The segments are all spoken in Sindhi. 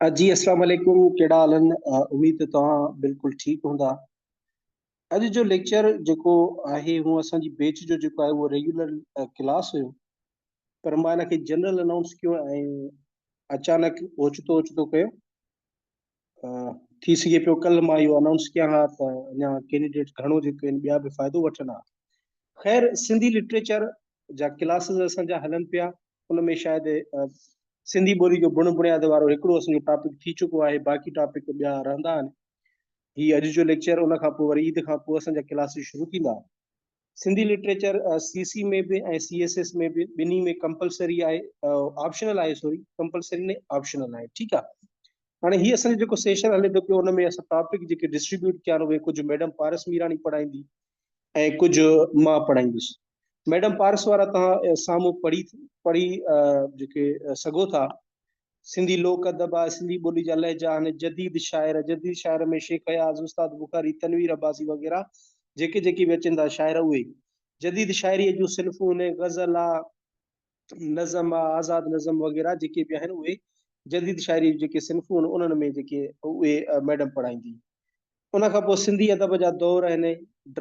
جي اسلام عليڪم ڪهڙا حال آهن اميد ته توهان بلڪل ٺيڪ هوندا اڄ جو ليڪچر جيڪو آهي هو اسان جي بيچ جو جيڪو آهي اهو ريگيولر ڪلاس هيو پر مان هن کي جنرل انائونس ڪيو ۽ اچانڪ اوچتو اوچتو ڪيو ٿي سگهي پيو ڪلهه مان اهو انائونس ڪيان ها ته اڃا ڪينڊيڊيٽ گهڻو جيڪو آهن ٻيا به فائدو وٺن ها خير سنڌي لٽريچر جا ڪلاسز اسان جا هلن پيا ان ۾ شايد سنڌي ٻولي جو بڻ بڻياد وارو هڪڙو اسان جو ٽاپڪ ٿي چڪو آهي باقي ٽاپڪ ٻيا رهندا آهن هي اڄ جو ليڪچر ان کان پوء وري عيد کان پوء اسان جا ڪلاسز شروع ٿيندا سنڌي لٽريچر سي سي ۾ به ۽ سي ايس ايس ۾ به ٻنهي ۾ ڪمپلسري آهي آپشنل آهي سوري ڪمپلسري نه آپشنل آهي ٺيڪ آهي هاڻي هي اسان جو جيڪو سيشن هلي ٿو پيو ان ۾ اسان ٽاپڪ جيڪي ڊسٽريبيوٽ ڪيا آهن اهي ڪجهه ميڊم پارس ميراڻي پڙهائيندي ۽ ڪجهه مان پڙهائيندس ميڊم پارس وارا تان سامهون پڙهي پڙهي جيڪي سگهو ٿا سنڌي لوڪ ادب آهي، سنڌي ٻولي جا لهجا آهن، جديد شاعر، جديد شاعر ۾ شيخ اياز، استاد بخاري، تنوير عباسي وغيره جيڪي جيڪي به اچن ٿا شاعر اهي جديد شاعريء جون صنفون آهن، غزل آ، نظم آ، آزاد نظم وغيره جيڪي به آهن اهي جديد شاعريء جون جيڪي صنفون آهن انهن ۾ جيڪي اهي ميڊم پڙهائيندي. ان کان پوء سنڌي ادب جا دور آهن،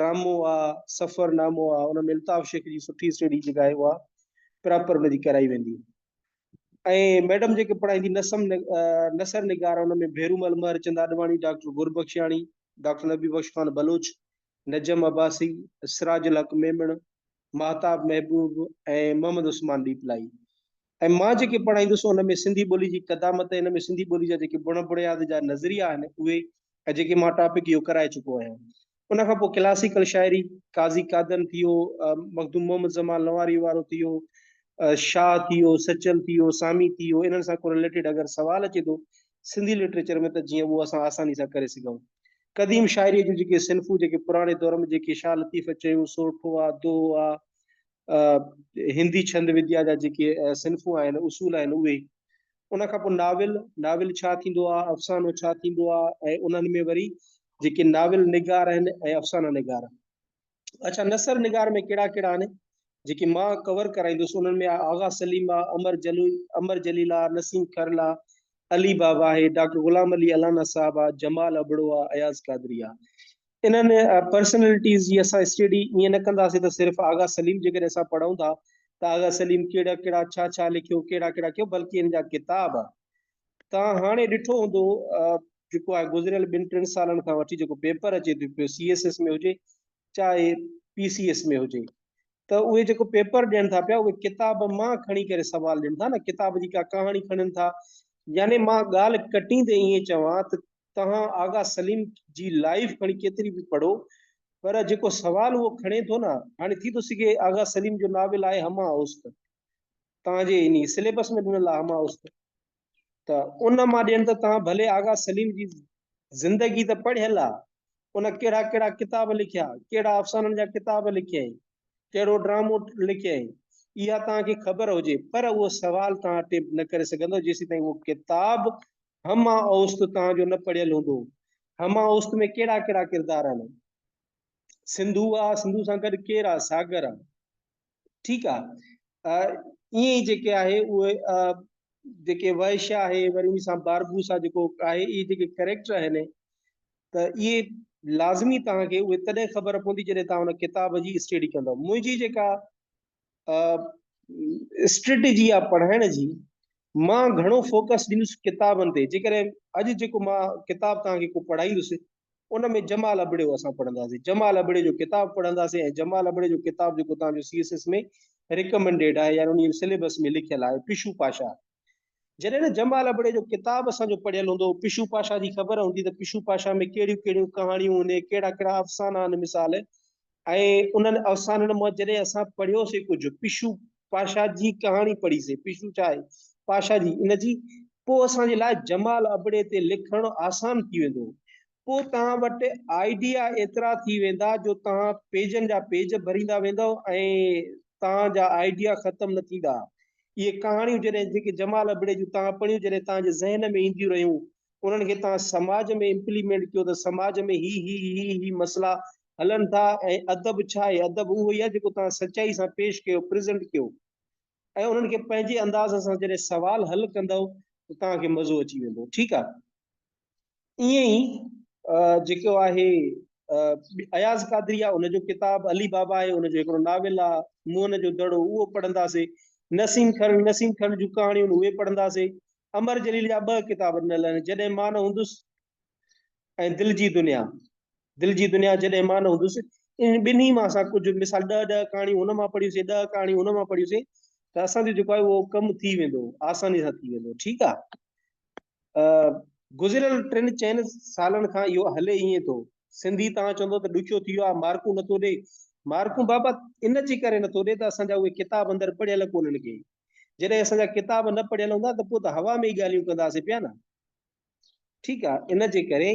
ڊرامو آ، سفرنامو آ، ان ۾ الطاف شيخ جي سٺي سهيڙي جيڪا آهي اها پراپر ان جي ڪرائي ويندي. ۽ ميڊم جيڪي پڙهائيندي نسم نثر نگار ان ۾ ڀيرومل مهر چند آڏواڻي، ڊاڪٽر گربخشياڻي، ڊاڪٽر نبي بخش خان بلوچ، نجم عباسي، سراج الحق ميمڻ، ماهتاب محبوب ۽ محمد عثمان ڏيپلائي. ۽ مان جيڪي پڙهائيندس ان ۾ سنڌي ٻولي جي قدامت ۽ ان ۾ سنڌي ٻولي جا جيڪي بڻ بڻياد جا نظريا آهن اهي ۽ جيڪي مان ٽاپڪ اهو ڪرائي چڪو آهيان. ان کان پوء ڪلاسيڪل شاعري، قاضي قادن ٿي ويو، مخدوم محمد زمان لنواريء وارو ٿي ويو، شاهه ٿي ويو، سچل ٿي ويو، سامي ٿي ويو، انهن سان ڪو رليٽيڊ اگر سوال اچي ٿو سنڌي لٽريچر ۾ ته جيئن اهو اسان آساني سان ڪري سگهون. قديم شاعريء جون جيڪي صنفون جيڪي پراڻي دور ۾ جيڪي شاهه لطيف چيون، سورٺو آ، دوهو آ، هندي ڇند وديا جا جيڪي صنفون آهن، اصول آهن، اهي ان کان پوء ناول، ناول ڇا ٿيندو آ، افسانو ڇا ٿيندو آ ۽ انهن ۾ وري جيڪي ناول نگار آهن ۽ افسانه نگار. اڇا نثر نگار ۾ ڪهڙا ڪهڙا آهن جيڪي مان ڪور ڪرائيندس انهن ۾ آ آغا سليم آ، امر جليل، امر جليل آ، نسيم کرل آ، علي بابا آهي، ڊاڪٽر غلام علي الانا صاحب آ، جمال ابڙو آ، اياز قادري آ. انهن پرسنلٽيز جي اسان اسٽڊي ائين نه ڪنداسين ته صرف آغا سليم جيڪڏهن اسان پڙهون ٿا ته آغا سليم ڪهڙا ڪهڙا ڇا ڇا لکيو ڪهڙا ڪهڙا ڪيو بلڪه ان جا ڪتاب توهان هاڻي ڏٺو هوندو جيڪو آهي گذريل ٻن ٽن سالن کان وٺي جيڪو پيپر اچي ٿو پيو سي ايس ايس ۾ هجي چاهي پي سي ايس ۾ هجي ته اهي جيڪو پيپر ڏين ٿا پيا اهي ڪتاب مان کڻي ڪري سوال ڏين ٿا نه ڪتاب جي ڪا ڪهاڻي کڻن ٿا يعني مان ڳالهه ڪٽين تي ائين چوان ته تهان آغا سليم جي لائف کڻي ڪيتري به پڙهو پر جيڪو سوال اهو کڻي ٿو نه هاڻي ٿي ٿو سگهي آغا سليم جو ناول آهي هماهوست تهان جي انهي سليبس ۾ ڏنل آهي هماهوست ته ان مان ڏين ته توهان ڀلي آغا سليم جي زندگي ته پڙهيل آ، ان ڪهڙا ڪهڙا ڪتاب لکيا، ڪهڙا افسانن جا ڪتاب لکيائين، ڪهڙو ڊرامو لکيائين، اها توهان کي خبر هجي، پر اهو سوال توهان اٽيمپٽ نه ڪري سگهندؤ جيسين تائين اهو ڪتاب همه اوست توهان جو نه پڙهيل هوندو. همه اوست ۾ ڪهڙا ڪهڙا ڪردار آهن، سنڌو آ، سنڌو سان گڏ ڪير آ، ساگر آ، ٺيڪ آ ائين ئي جيڪي آهي اهي جيڪي وحش آهي وري ان سان باربوس آ جيڪو آهي اهي جيڪي ڪريڪٽر آهن ته اهي لازمي توهان کي اهي تڏهن خبر پوندي جڏهن توهان ان ڪتاب جي اسٽيڊي ڪندو منهنجي جيڪا اسٽريٽجي آ پڙهائڻ جي مان گهڻو فوڪس ڏيندس ڪتابن تي جيڪڏهن اڄ جيڪو مان ڪتاب توهان کي ڪو پڙهائيندس ان ۾ جمال ابڙيو اسان پڙهنداسين، جمال ابڙي جو ڪتاب پڙهنداسين ۽ جمال ابڙي جو ڪتاب جيڪو توهان جو سي ايس ايس ۾ ريڪمنڊيڊ آهي يعني انهي سليبس ۾ لکيل آهي پشو پاشا جڏهن نه جمال ابڙي جو ڪتاب اسان جو پڙهيل هوندو پشو پاشا جي خبر هوندي ته پشو پاشا ۾ ڪهڙيون ڪهڙيون ڪهاڻيون هن ڪهڙا ڪهڙا افسانا آهن مثال ۽ انهن افسانن مان جڏهن اسان پڙهيو سي ڪجهه پشو پاشا جي ڪهاڻي پڙهي سي پشو ڇا آهي پاشا جي ان جي پوء اسان جي لاء جمال ابڙي تي لکڻ آسان ٿي ويندو پوء توهان وٽ آئيڊيا ايترا ٿي ويندا جو توهان پيجن جا پيج ڀريندا ويندو ۽ توهان جا آئيڊيا ختم نه ٿيندا اهي ڪهاڻيون جڏهن جيڪي جمال ابڙي جون توهان پڙهيون جڏهن توهان جي ذهن ۾ اينديون رهيون انهن کي توهان سماج ۾ امپليمينٽ ڪيو ته سماج ۾ هي هي هي هي مسئلا هلن ٿا ۽ ادب ڇا آهي ادب اهو ئي آهي جيڪو توهان سچائي سان پيش ڪيو پريزنٽ ڪيو ۽ انهن کي پنهنجي انداز سان جڏهن سوال حل ڪندو ته توهان کي مزو اچي ويندو ٺيڪ آهي ائين ئي جيڪو آهي اياز قادري آهي ان جو ڪتاب علي بابا آهي ان جو هڪڙو ناول آهي موهن جو دڙو اهو پڙهنداسي نسيم خان نسيم خان جون ڪهاڻيون اهي پڙهنداسي امر جليل جا ٻه ڪتاب ڏنل آهن، جڏهن مان نه هوندس ۽ دل جي دنيا. دل جي دنيا جڏهن مان نه هوندس، انهن ٻنهي مان اسان ڪجهه مثال ڏهه ڏهه ڪهاڻيون هن مان پڙهيون سين، ڏهه ڪهاڻيون هن مان پڙهيون سين ته اسان جو جيڪو آهي اهو ڪم ٿي ويندو، آساني سان ٿي ويندو. ٺيڪ آهي. گذريل ٽن چئن سالن کان اهو هلي ائين ٿو. سنڌي توهان چوندو ته ڏکيو ٿي ويو آهي، مارڪون نٿو ڏئي. مارڪون بابا ان جي ڪري نٿو ڏئي ته اسان جا اهي ڪتاب اندر پڙهيل ڪونهن ڪي. جڏهن اسان جا ڪتاب نه پڙهيل هوندا ته پوء ته هوا ۾ ئي ڳالهيون ڪنداسين پيا نه. ٺيڪ آ ان جي ڪري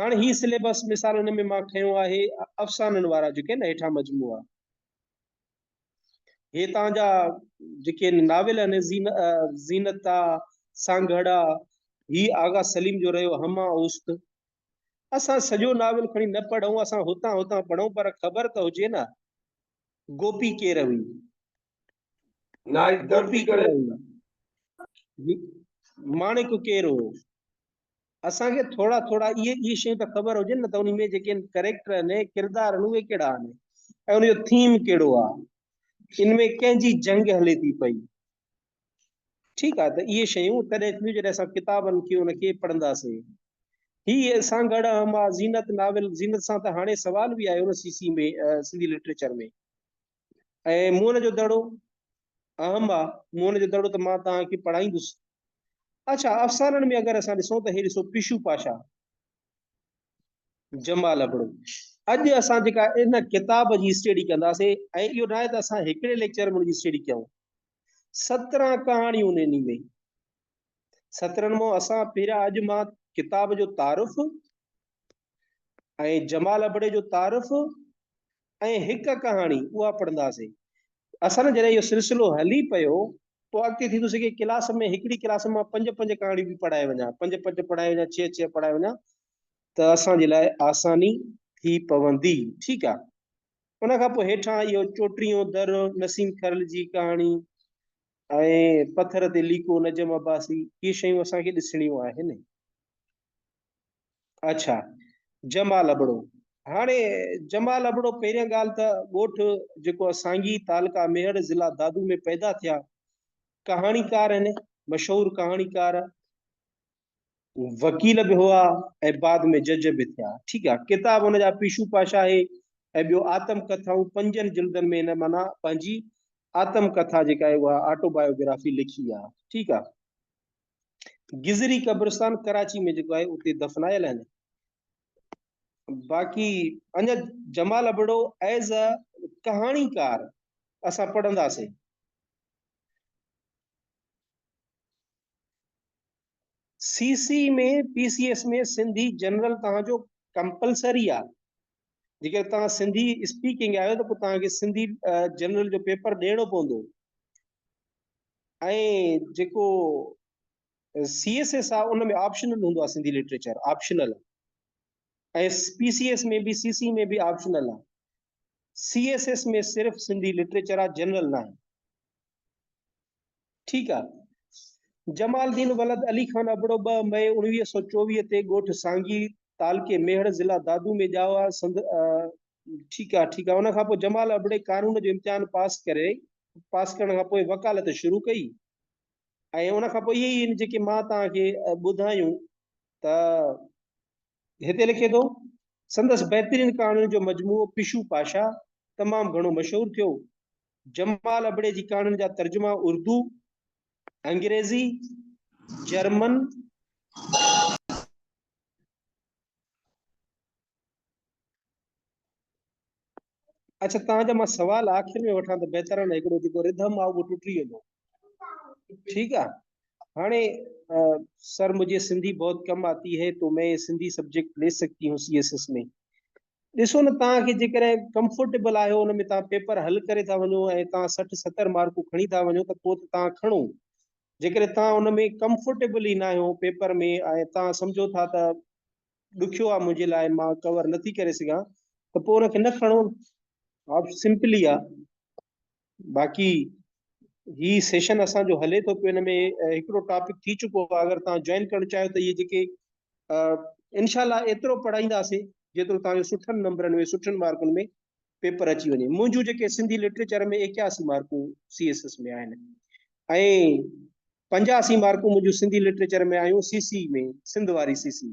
هاڻ هي سليبس مثال ان ۾ مان کنيو آهي افسانن وارا جيڪي نه هيٺان مجموعا هتان جا جيڪي ناول آهن زينتا سانگهڙا هي آغا سليم جو رهيو هما اوست اسان سڄو ناول کڻي نه پڙهون اسان هتان هتان پڙهون پر خبر ته هجي نه گوپي ڪير هئي نائيڪ دربي ڪري ماڻڪ ڪير هو اسان کي ٿورا ٿورا اهي اهي شيون ته خبر هجن نه ته ان ۾ جيڪي ڪريڪٽر آهن ڪردار آهن اهي ڪهڙا آهن ۽ ان جو ٿيم ڪهڙو آهي ان ۾ ڪنهن جي جنگ هلي ٿي پئي ٺيڪ آهي ته اهي شيون تڏهن ٿينديون جڏهن اسان ڪتابن کي ان کي پڙهنداسين هي اسان گڙ اهم آهي زينت ناول زينت سان ته هاڻي سوال به آيو نه سي سي ۾ سنڌي لٽريچر ۾ ۽ موهن جو دڙو اهم آ، موهن جو دڙو ته مان توهان کي پڙهائيندس. اڇا افسانن ۾ اگر اسان ڏسون ته هي ڏسو پشو پاشا، جمال ابڙو. اڄ اسان جيڪا ان ڪتاب جي اسٽيڊي ڪنداسي ۽ اهو ناهي ته اسان هڪڙي ليڪچر ۾ ان جي اسٽيڊي ڪيون. سترهن ڪهاڻيون ان انهي ۾ سترن مون اسان پهريا اڄ مان ڪتاب جو تعارف ۽ جمال ابڙي جو تعارف ۽ هڪ ڪهاڻي اها پڙهنداسين. اسان جڏهن اهو سلسلو هلي پيو پوء اڳتي ٿيندو سگهي ڪلاس ۾ هڪڙي ڪلاس ۾ مان پنج پنج ڪهاڻيون به پڙهائي وڃان، پنج پنج پڙهائي وڃان، ڇهه ڇهه پڙهائي وڃان ته اسان جي لاء آساني ٿي پوندي. ٺيڪ آ. ان کان پوء هيٺان اهو چوٽيهون در نسيم کرل جي ڪهاڻي ۽ پٿر تي ليڪو نجم عباسي اهي شيون اسان کي ڏسڻيون آهن. اڇا جمال ابڙو هاڻي جمال ابڙو پهريان ڳالهه ته ڳوٺ جيڪو سانگي تعلقه ميهڙ ضلع دادو ۾ پيدا ٿيا ڪهاڻيڪار آهن مشهور ڪهاڻيڪار وڪيل به هئا ۽ بعد ۾ جج به ٿيا ٺيڪ آهي ڪتاب هن جا پيشو پاشا آهي ۽ ٻيو آتم ڪٿائون پنجن جلدن ۾ هن مانا پنهنجي آتم ڪٿا جيڪا آهي اها آٽو بايوگرافي لکي آهي ٺيڪ آهي گذري قبرستان ڪراچي ۾ جيڪو آهي اتي دفنايل آهن باقي اڃا جمال ابڙو ایز ا ڪهاڻيڪار اسان پڙهنداسين C C ۾ P C S ۾ Sindhi general توهان جو ڪمپلسري آ جيڪڏهن توهان سنڌي اسپيڪنگ آهيو ته پوء توهان کي سنڌي جنرل جو پيپر ڏيڻو پوندو ۽ جيڪو سی ايس ايس آ ان ۾ آپشنل هوندو آ Sindhi literature optional ۽ P C S ۾ به سي سي ۾ به آپشنل آ سی ايس ايس ۾ صرف سنڌي لٽريچر آ جنرل نه آهي ٺيڪ آ. جمال الدين ولد علي خان ابڙو ٻه مئي اڻويهه سؤ چوويهه تي ڳوٺ سانگي، تعلقي ميهڙ، ضلع دادو ۾ ڄائو آ. سند. ٺيڪ آ، ٺيڪ آ. ان کان پوء جمال ابڙي قانون جو امتحان پاس ڪري پاس ڪرڻ کان پوء وڪالت شروع ڪئي ۽ ان کان پوء اهي ئي آهن جيڪي مان توهان کي ٻڌايون ته هتي لکي ٿو سندس بهترين ڪهاڻين جو مجموعو پشو پاشا تمام گهڻو مشهور ٿيو جمال ابڙي جي ڪهاڻين جا ترجما اردو، انگريزي، جرمن، اچھا تان جا مان سوال آخر ۾ وٺان ته بهتر آهن هڪڙو جيڪو رڌم آ اهو ٽٽي ويندو ٺيڪ آ هاڻي سر مجھي سنڌي بهت ڪم آتي هي تو مين سنڌي سبجيڪٽ لي سگتي هون سي ايس ايس ۾ ڏسو نه توهان کي جيڪڏهن ڪمفرٽيبل آهيو ان ۾ توهان پيپر حل ڪري ٿا وڃو ۽ توهان سٺ ستر مارڪون کڻي ٿا وڃو ته پوء ته توهان کڻو جيڪڏهن توهان ان ۾ ڪمفرٽيبل ئي ناهيو پيپر ۾ ۽ توهان سمجهو ٿا ته ڏکيو آهي منهنجي لاء مان ڪور نٿي ڪري سگهان ته پوء ان کي نه کڻو آپشن سمپل ئي آهي. باقي هي سيشن اسان جو هلي ٿو پيو ان ۾ هڪڙو ٽاپڪ ٿي چڪو آهي اگر توهان جوائن ڪرڻ چاهيو ته اهي جيڪي انشاء الله ايترو پڙهائينداسين جيترو توهان جو سٺن نمبرن ۾ سٺن مارڪن ۾ پيپر اچي وڃي منهنجون جيڪي سنڌي لٽريچر ۾ اڪياسي مارڪون سي ايس ايس ۾ آهن ۽ پنجاسي مارڪون منهنجون سنڌي لٽريچر ۾ آيون سي سي ۾ سنڌ واري سي سي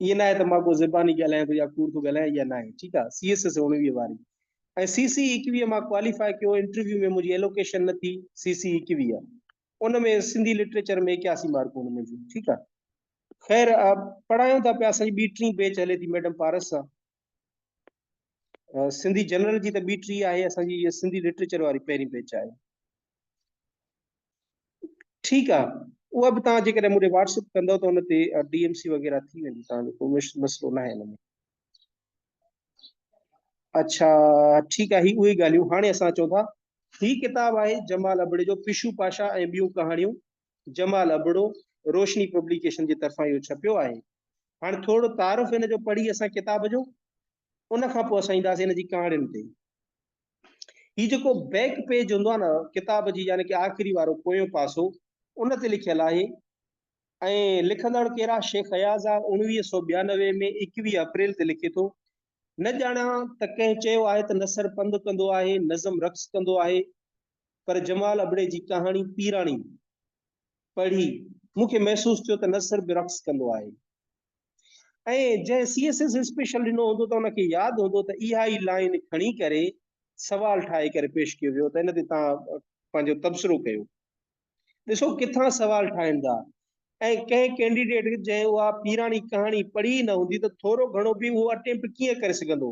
ائين ناهي ته مان ڪو زباني ڳالهايان ٿو يا ڪوڙ ٿو ڳالهايان اها ناهي ٺيڪ آهي سي ايس ايس اوڻويهه واري ۽ سي سي ايڪويهه مان ڪواليفائي ڪيو انٽرويو ۾ منهنجي ايلوڪيشن نه ٿي سي سي ايڪويهه ان ۾ سنڌي لٽريچر ۾ اڪياسي مارڪون هن منهنجون ٺيڪ آهي خير پڙهايون ٿا پيا اسان جي ٻي ٽين بيچ هلي ٿي ميڊم پارس سان سنڌي جنرل جي ته ٻي ٽي آهي اسان جي اها سنڌي لٽريچر واري پهرين بيچ آهي ٺيڪ آهي اها به توهان جيڪڏهن مون کي واٽسپ ڪندو ته ان تي ڊي ايم سي وغيرہ ٿي ويندي توهان جو ڪو مسئلو نه آهي ان ۾ اچھا ٺيڪ آهي اهي ڳالهيون هاڻي اسان چون ٿا هي ڪتاب آهي جمال ابڙي جو پشو پاشا ۽ ٻيون ڪهاڻيون جمال ابڙو روشني پبليڪيشن جي طرفان اهو ڇپيو آهي. هاڻ ٿورڙو تعارف هن جو پڙهي اسان ڪتاب جو ان کان پوء اسان اينداسين هن جي ڪهاڻين تي. هي جيڪو بيڪ پيج هوندو آهي نه ڪتاب جي يعني ڪي آخري وارو پويون پاسو ان تي لکيل آهي ۽ لکندڙ ڪير آهي شيخ اياز آهي اوڻويهه سؤ ٻيانوي ۾ ايڪويهه اپريل تي لکي ٿو نه ڄاڻان ته ڪنهن چيو آهي ته نثر پنڌ ڪندو آهي نظم رقص ڪندو آهي پر جمال ابڙي جي ڪهاڻي پيراڻي پڙهي مون کي محسوس ٿيو ته نثر به رقص ڪندو آهي ۽ جنهن سي ايس ايس اسپيشل ڏنو هوندو ته ان کي ياد هوندو ته اها ئي لائن کڻي ڪري سوال ٺاهي ڪري پيش ڪيو ويو ته ان تي تان پنهنجو تبصرو ڪيو ڏسو ڪٿان سوال ٺاهين ٿا ۽ ڪنهن ڪينڊيڊيٽ جنهن اها پيراڻي ڪهاڻي پڙهي ئي نه هوندي ته ٿورو گهڻو به اهو اٽيمپٽ ڪيئن ڪري سگهندو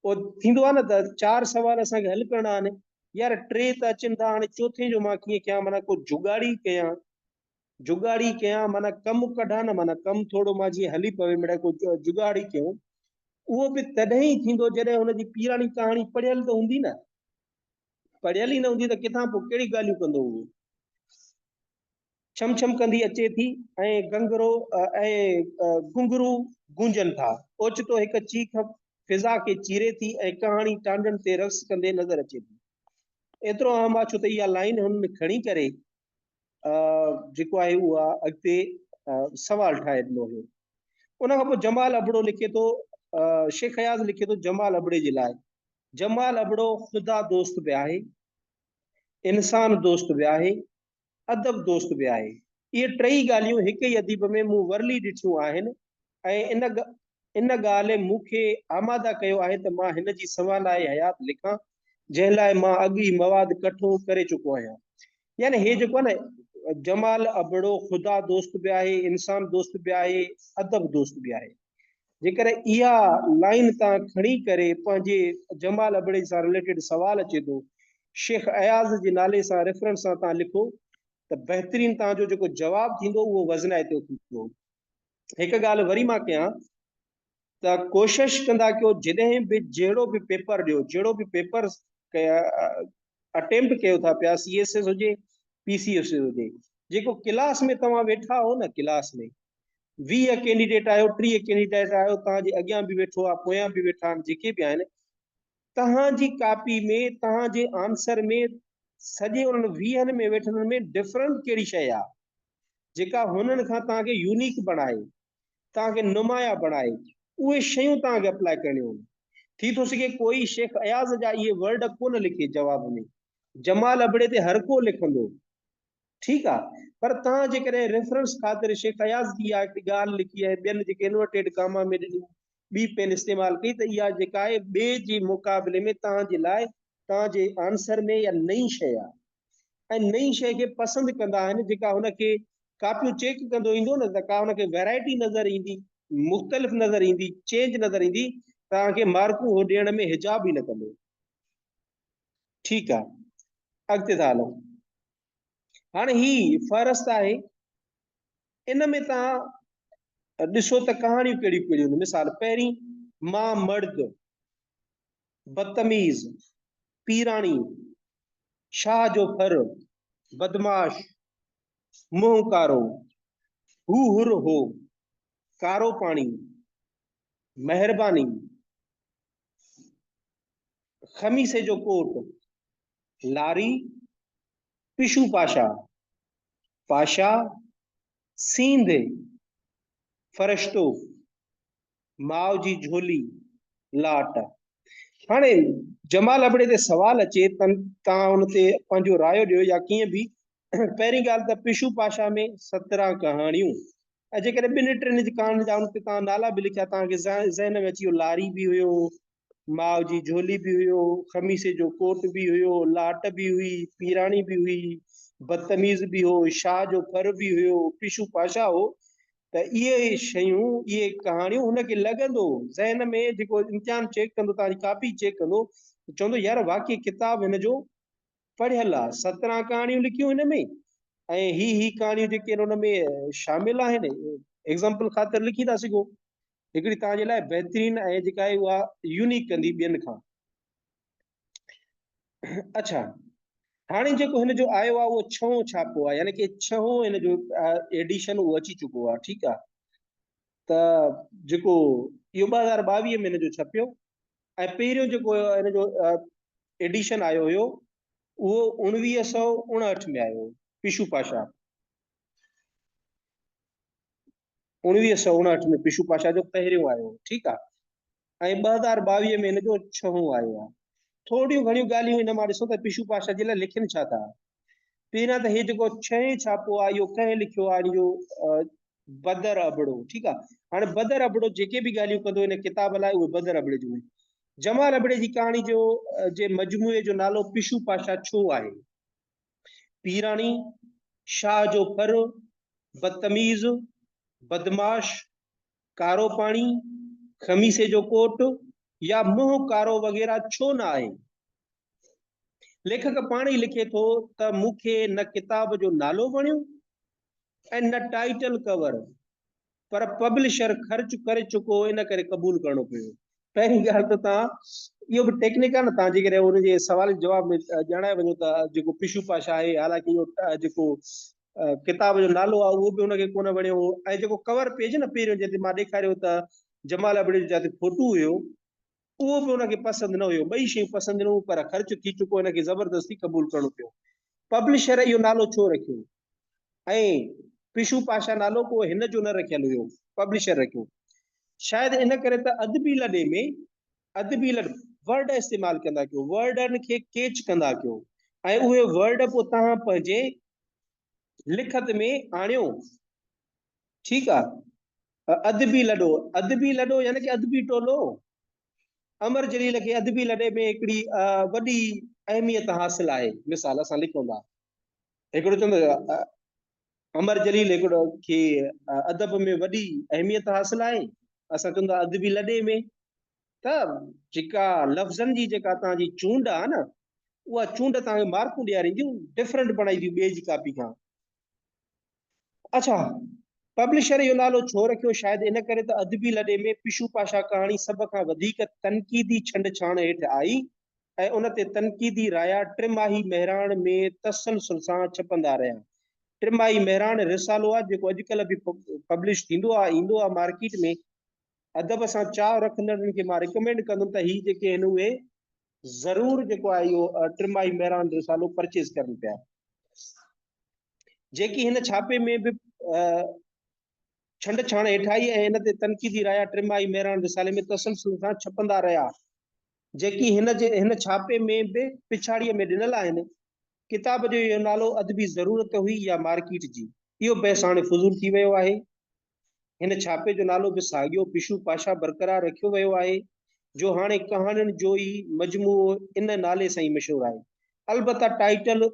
پوء ٿيندو آهي نه ته چار سوال اسان کي حل ڪرڻا آهن يار ٽي ته اچن ٿا هاڻي چوٿين جو مان ڪيئن ڪيان معنيٰ ڪو جگاڙي ڪيان جگاڙي ڪيان معنيٰ ڪم ڪڍان نه معنيٰ ڪم ٿورو مان جيئن هلي پوي مڙي ڪو جگاڙي ڪيو اهو به تڏهن ئي ٿيندو جڏهن هن جي پيراڻي ڪهاڻي پڙهيل ته هوندي نه پڙهيل ئي نه هوندي ته ڪٿان پوء ڪهڙي ڳالهيون ڪندو هو. ڇم ڇم ڪندي اچي ٿي ۽ گنگرو ۽ گنگرو گونجن ٿا. اوچتو هڪ چيخ فضا کي چيري ٿي ۽ ڪهاڻي ٽانڊن تي رقص ڪندي نظر اچي ٿي. ايترو اهم آ ڇو ته اها لائين هن کڻي ڪري جيڪو آهي اها اڳتي سوال ٺاهي ڏنو هيو. ان کان پوء جمال ابڙو لکي ٿو شيخ اياز لکي ٿو جمال ابڙي جي لاء جمال ابڙو خدا دوست به آهي، انسان دوست به آهي، ادب دوست به آهي. اهي ٽئي ڳالهيون هڪ ئي اديب ۾ مون ورلي ڏٺيون آهن ۽ ان ان ڳالهه مون کي آماده ڪيو آهي ته مان هن جي سنوالائي حيات لکان، جنهن لاء مان اڳ ئي مواد ڪٺو ڪري چڪو آهيان. يعني هي جيڪو آهي نه جمال ابڙو خدا دوست به آهي انسان دوست به آهي ادب دوست به آهي جيڪر اها لائن تان کڻي ڪري پنهنجي جمال ابڙي سان ريليٽيڊ سوال اچي ٿو شيخ اياز جي نالي سان ريفرنس سان تان لکو ته بهترين تان جو جيڪو جواب ٿيندو اهو وزنائتو ٿيندو هڪ ڳالهه وري مان ڪيان ته ڪوشش ڪندا ڪيو جڏهن به جهڙو به پيپر ڏيو جهڙو به پيپر اٽيمپٽ ڪيو ٿا پيا سي ايس ايس هجي پي سي ايس ايس هجي جيڪو ڪلاس ۾ توهان ويٺا آهو نه ڪلاس ۾ ويهه ڪينڊيڊيٽ آهيو ٽيهه ڪينڊيڊيٽ آهيو تهان جي اڳيان به ويٺو آهي پويان به ويٺا آهن جيڪي به آهن تهان جي ڪاپي ۾ تهان جي آنسر ۾ سڄي انهن ويهن ۾ ويٺل ۾ ڊفرنٽ ڪهڙي شيء آهي جيڪا هنن کان تهان کي يونيڪ بڻائي توهان کي نمايان بڻائي اهي شيون توهان کي اپلاء ڪرڻيون هونديون. ٿي ٿو سگهي ڪوئي شيخ اياز جا اهي ورڊ ڪونه لکي جواب ۾ جمال ابڙي تي هرڪو لکندو ٺيڪ آ پر توهان جيڪڏهن ريفرنس خاطر شيخ اياز جي اها هڪڙي ڳالهه لکي ۽ ٻين جيڪي انورٽيڊ ڪاما ۾ ڏني ٻي پين استعمال ڪئي ته اها جيڪا آهي ٻئي جي مقابلي ۾ توهان جي لاء توهان جي آنسر ۾ اها نئين شيء آ ۽ نئين شيء کي پسند ڪندا آهن جيڪا هن کي ڪاپيون چيڪ ڪندو ايندو نه ته ڪا هن کي ويرائٽي نظر ايندي مختلف نظر ايندي چينج نظر ايندي توهان کي مارڪون هو ڏيڻ ۾ حجاب ئي نه ڪندو ٺيڪ آهي اڳتي ٿا هلون هاڻي هي فهرست آهي ان ۾ توهان ڏسو ته ڪهاڻيون ڪهڙيون ڪهڙيون مثال پهرين مان مرد بدتميز، پيراڻي، شاهه جو ڦر، بدمعاش، منهن ڪارو، هو حر هو، ڪارو پاڻي، مهرباني، خميسي جو ڪوٽ، لاري، پشو پاشا، پاشا، سينڌ، فرشتو، ماء جي جھولي لاٽ. هاڻي جمال ابڙي تي سوال اچي تن توهان ان تي پنهنجو رايو ڏيو يا ڪيئن به پهرين ڳالهه ته پشو پاشا ۾ سترهن ڪهاڻيون ۽ جيڪڏهن ٻن ٽن ڪهاڻين جا ان تي توهان نالا به لکيا توهان کي ذهن ۾ اچي ويو لاري به هيو ماء جي جهولي به هيو، خميسي جو ڪوٽ به هيو، لاٽ به هئي، پيراڻي به هئي، بدتميز به هو، شاهه جو ڦر به هيو، پشو پاشا هو ته اهي شيون، اهي ڪهاڻيون هن کي لڳندو هو. ذهن ۾ جيڪو امتحان چيڪ ڪندو، توهان جي ڪاپي چيڪ ڪندو ته چوندو يار واقعي ڪتاب هن جو پڙهيل آهي. سترهن ڪهاڻيون لکيون هن ۾ ۽ هي هي ڪهاڻيون جيڪي ان ۾ شامل آهن ايگزامپل خاطر لکي ٿا سگهو. هڪڙي توهان جي لاء بهترين ۽ جيڪا آهي اها يونيڪ ڪندي ٻين کان اڇا هاڻي جيڪو هن جو آيو آهي اهو ڇهون ڇاپو آهي يعني ڪي ڇهون هن جو ايڊيشن اهو اچي چڪو آهي ٺيڪ آهي ته جيڪو اهو ٻه هزار ٻاويهه ۾ هن جو ڇپيو ۽ پهريون جيڪو هن جو ايڊيشن آيو هيو اهو اڻويهه سو اڻهٺ ۾ آيو پيشو پاشا اوڻويهه سؤ اڻهٺ ۾ پشو پاشا جو پهريون آيو هو، ٺيڪ آ، ۽ ٻه هزار ٻاويهه ۾ هن جو ڇهون آيو آ. ٿورڙيون گهڻيون ڳالهيون هن مان ڏسو ته پشو پاشا جي لاء لکين ڇا ٿا. پهريان ته هي جيڪو ڇهين ڇاپو آ، اهو ڪنهن لکيو آ، اهو بدر ابڙو، ٺيڪ آ، هاڻي بدر ابڙو جيڪي به ڳالهيون ڪندو هن ڪتاب لاء، اهي بدر ابڙي جون آهن. جمال ابڙي جي ڪهاڻي جو جي مجموعي جو نالو پشو پاشا ڇو آهي؟ پيراڻي شاهه جو ڦر، بدتميز، بدمعاش، ڪارو پاڻي، خميسي جو ڪوٽ يا منهن ڪارو وغيره ڇو نه آهي؟ ليکڪ پاڻ ئي لکي ٿو ته مون کي نه ڪتاب جو نالو وڻيو ۽ نه ٽائيٽل ڪور پر پبلشر خرچ ڪري چڪو هو ان ڪري قبول ڪرڻو پيو. پهرين ڳالهه ته توهان اهو به ٽيڪنڪ آهي نه توهان جيڪڏهن ان جي سوال جواب ۾ ڄاڻائي وڃو ته جيڪو پشو پاشا آهي حالانڪه اهو جيڪو ڪتاب جو نالو آهي اهو به ان کي ڪونه وڻيو هو ۽ جيڪو ڪور پيج نه پهريون جنهن تي مان ڏيکاريو ته جمال ابڙي جو جتي فوٽو هيو اهو به هن کي پسند نه هيو. ٻئي شيون پسند نه هيون پر خرچ ٿي چڪو هن کي زبردستي قبول ڪرڻو پيو. پبلشر اهو نالو ڇو رکيو ۽ پشو پاشا نالو ڪو هن جو نه رکيل هيو، پبلشر رکيو. شايد ان ڪري ته ادبي لڏي ۾ ادبي لڏ ورڊ استعمال ڪندا ڪيو، ورڊن کي ڪيچ ڪندا ڪيو ۽ اهي ورڊ پوء توهان پنهنجي لکت ۾ آڻيو. ٺيڪ آ. ادبي لڏو، ادبي لڏو يعني ڪي ادبي ٽولو. امر جليل کي ادبي لڏي ۾ هڪڙي وڏي اهميت حاصل آهي. مثال اسان لکون ٿا. هڪڙو چوندو امر جليل هڪڙو کي ادب ۾ وڏي اهميت حاصل آهي. اسان چون ٿا ادبي لڏي ۾ ته جيڪا لفظن جي جيڪا تان جي چونڊ آ نه اها چونڊ تان کي مارڪون ڏيارينديون ڊفرنٽ بڻائينديون ٻئي جي ڪاپي کان اڇا! پبلشر اهو نالو ڇو رکيو؟ شايد ان ڪري ته ادبي لڏي ۾ پشو پاشا ڪهاڻي سڀ کان وڌيڪ تنقيدي ڇنڊ ڇاڻ هيٺ آئي ۽ ان تي تنقيدي رايا ٽماهي مهراڻ ۾ تسلسل سان ڇپندا رهيا. ٽماهي مهراڻ رسالو آهي جيڪو اڄڪلهه به پبلش ٿيندو آهي ايندو آهي مارڪيٽ ۾. ادب سان چاء رکندڙن کي مان ريڪمينڊ ڪندم ته هي جيڪي آهن اهي ضرور جيڪو آهي اهو ٽماهي مهراڻ رسالو پرچيز ڪرن پيا. جيڪي هن ڇاپي ۾ به ڇنڊ ڇاڻ هيٺائي ۽ ان تي تنقيدي رايا ٽرمائي مهراڻ رسالي ۾ تسلسل سان ڇپندا رهيا جيڪي هن جي هن ڇاپي ۾ به پڇاڙيء ۾ ڏنل آهن ڪتاب جو اهو نالو ادبي ضرورت هئي يا مارڪيٽ جي اهو بحث هاڻي فضول ٿي ويو آهي هن ڇاپي جو نالو به ساڳيو پشو پاشا برقرار رکيو ويو آهي، جو هاڻي ڪهاڻين جو ئي مجموعو ان نالي سان ئي مشهور آهي. البته ٽائيٽل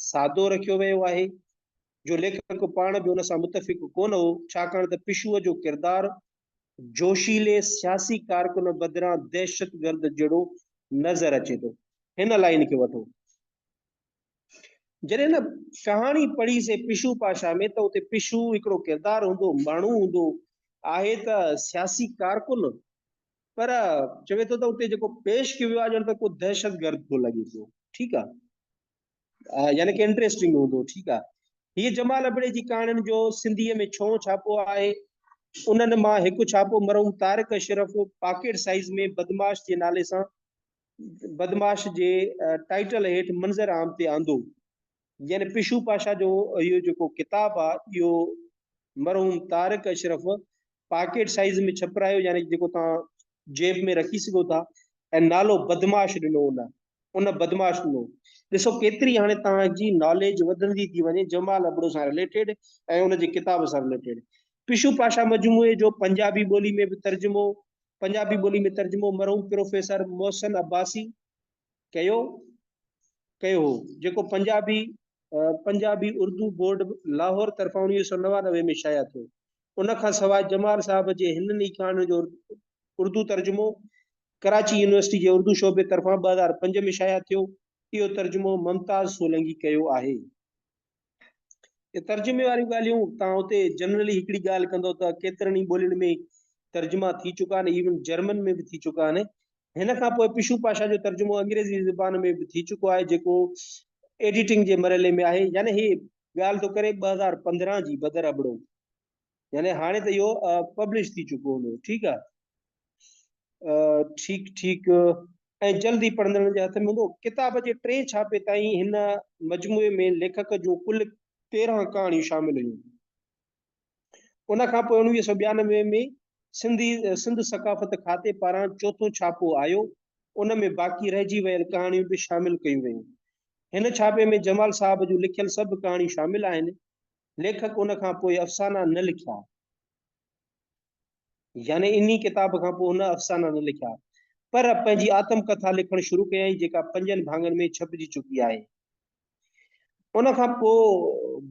سادو رکيو ويو آهي، جو ليکڪ پاڻ به ان سان متفق ڪونه هو، ڇاڪاڻ ته پشوء جو ڪردار جوشيلي سياسي ڪارڪن بدران دهشتگرد جهڙو نظر اچي ٿو. هن لائين کي وٺو. جڏهن هن ڪهاڻي پڙهي سي پشو پاشا ۾ ته اتي پشو هڪڙو ڪردار هوندو ماڻهو هوندو آهي ته سياسي ڪارڪن پر چوي ٿو ته اتي جيڪو پيش ڪيو ويو آهي ڄڻ ته ڪو دهشتگرد ٿو لڳي پيو ٺيڪ آهي يعني ڪي انٽريسٽنگ هوندو ٺيڪ آ هي جمال ابڙي جي ڪهاڻين جو سنڌي ۾ ڇو ڇاپو آهي انهن مان هڪ ڇاپو مرحوم طارق اشرف پاڪيٽ سائيز ۾ بدماش جي نالي سان بدمعاش جي ٽائيٽل هيٺ منظر عام تي آندو. يعني پشو پاشا جو اهو جيڪو ڪتاب آ اهو مرحوم طارق اشرف پاڪيٽ سائيز ۾ ڇپرايو يعني جيڪو توهان جيب ۾ رکي سگهو ٿا ۽ نالو بدمعاش ڏنو ان ان بدمعاش ڏنو ڏسو ڪيتري هاڻي توهان جي ناليج وڌندي ٿي وڃي جمال ابڙو سان رليٽيڊ ۽ ان جي ڪتاب سان رليٽيڊ پشو پاشا مجموعي جو پنجابي ٻولي ۾ به ترجمو پنجابي ٻولي ۾ ترجمو مرحوم پروفيسر محسن عباسي ڪيو ڪيو هو جيڪو پنجابي پنجابي اردو بورڊ لاهور طرفان انويهه سو نوانوي ۾ شايع ٿيو ان کان سواء جمال صاحب جي هنن ئي ڪهاڻين جو اردو ترجمو ڪراچي يونيورسٽي جي اردو شعبي طرفان ٻه هزار پنج ۾ شايع ٿيو اهو ترجمو ممتاز سولنگي ڪيو آهي ترجمي واريون ڳالهيون تان اتي جنرلي هڪڙي ڳالهه ڪندو ته ڪيترن ئي ٻولين ۾ ترجما ٿي چڪا آهن ايون جرمن ۾ به ٿي چڪا آهن هن کان پوء پشو پاشا جو ترجمو انگريزي زبان ۾ به ٿي چڪو آهي جيڪو ايڊيٽنگ جي مرحلي ۾ آهي يعني هي ڳالهه ٿو ڪري ٻه هزار پندرهن جي بدر ابڙو يعني هاڻي ته اهو پبلش ٿي چڪو هوندو ٺيڪ آ ٺيڪ ٺيڪ ۽ جلد ئي پڙهندڙن جي هٿ ۾ هوندو ڪتاب جي ٽئين ڇاپي تائين هن مجموعي ۾ ليکڪ جون ڪل تيرهن ڪهاڻيون شامل هيون ان کان پوء اڻويهه سو ٻيانوي ۾ سنڌي سنڌ ثقافت کاتي پاران چوٿون ڇاپو آيو ان ۾ باقي رهجي ويل ڪهاڻيون به شامل ڪيون ويون هن ڇاپي ۾ جمال صاحب جون لکيل سڀ ڪهاڻيون شامل آهن ليکڪ ان کان پوء افسانا نه لکيا يعني انهي ڪتاب کان پوء هن افسانا نه لکيا پر پنهنجي آتم ڪٿا لکڻ شروع ڪيائين جيڪا پنجن ڀاڱن ۾ ڇپجي چڪي آهي ان کان پوء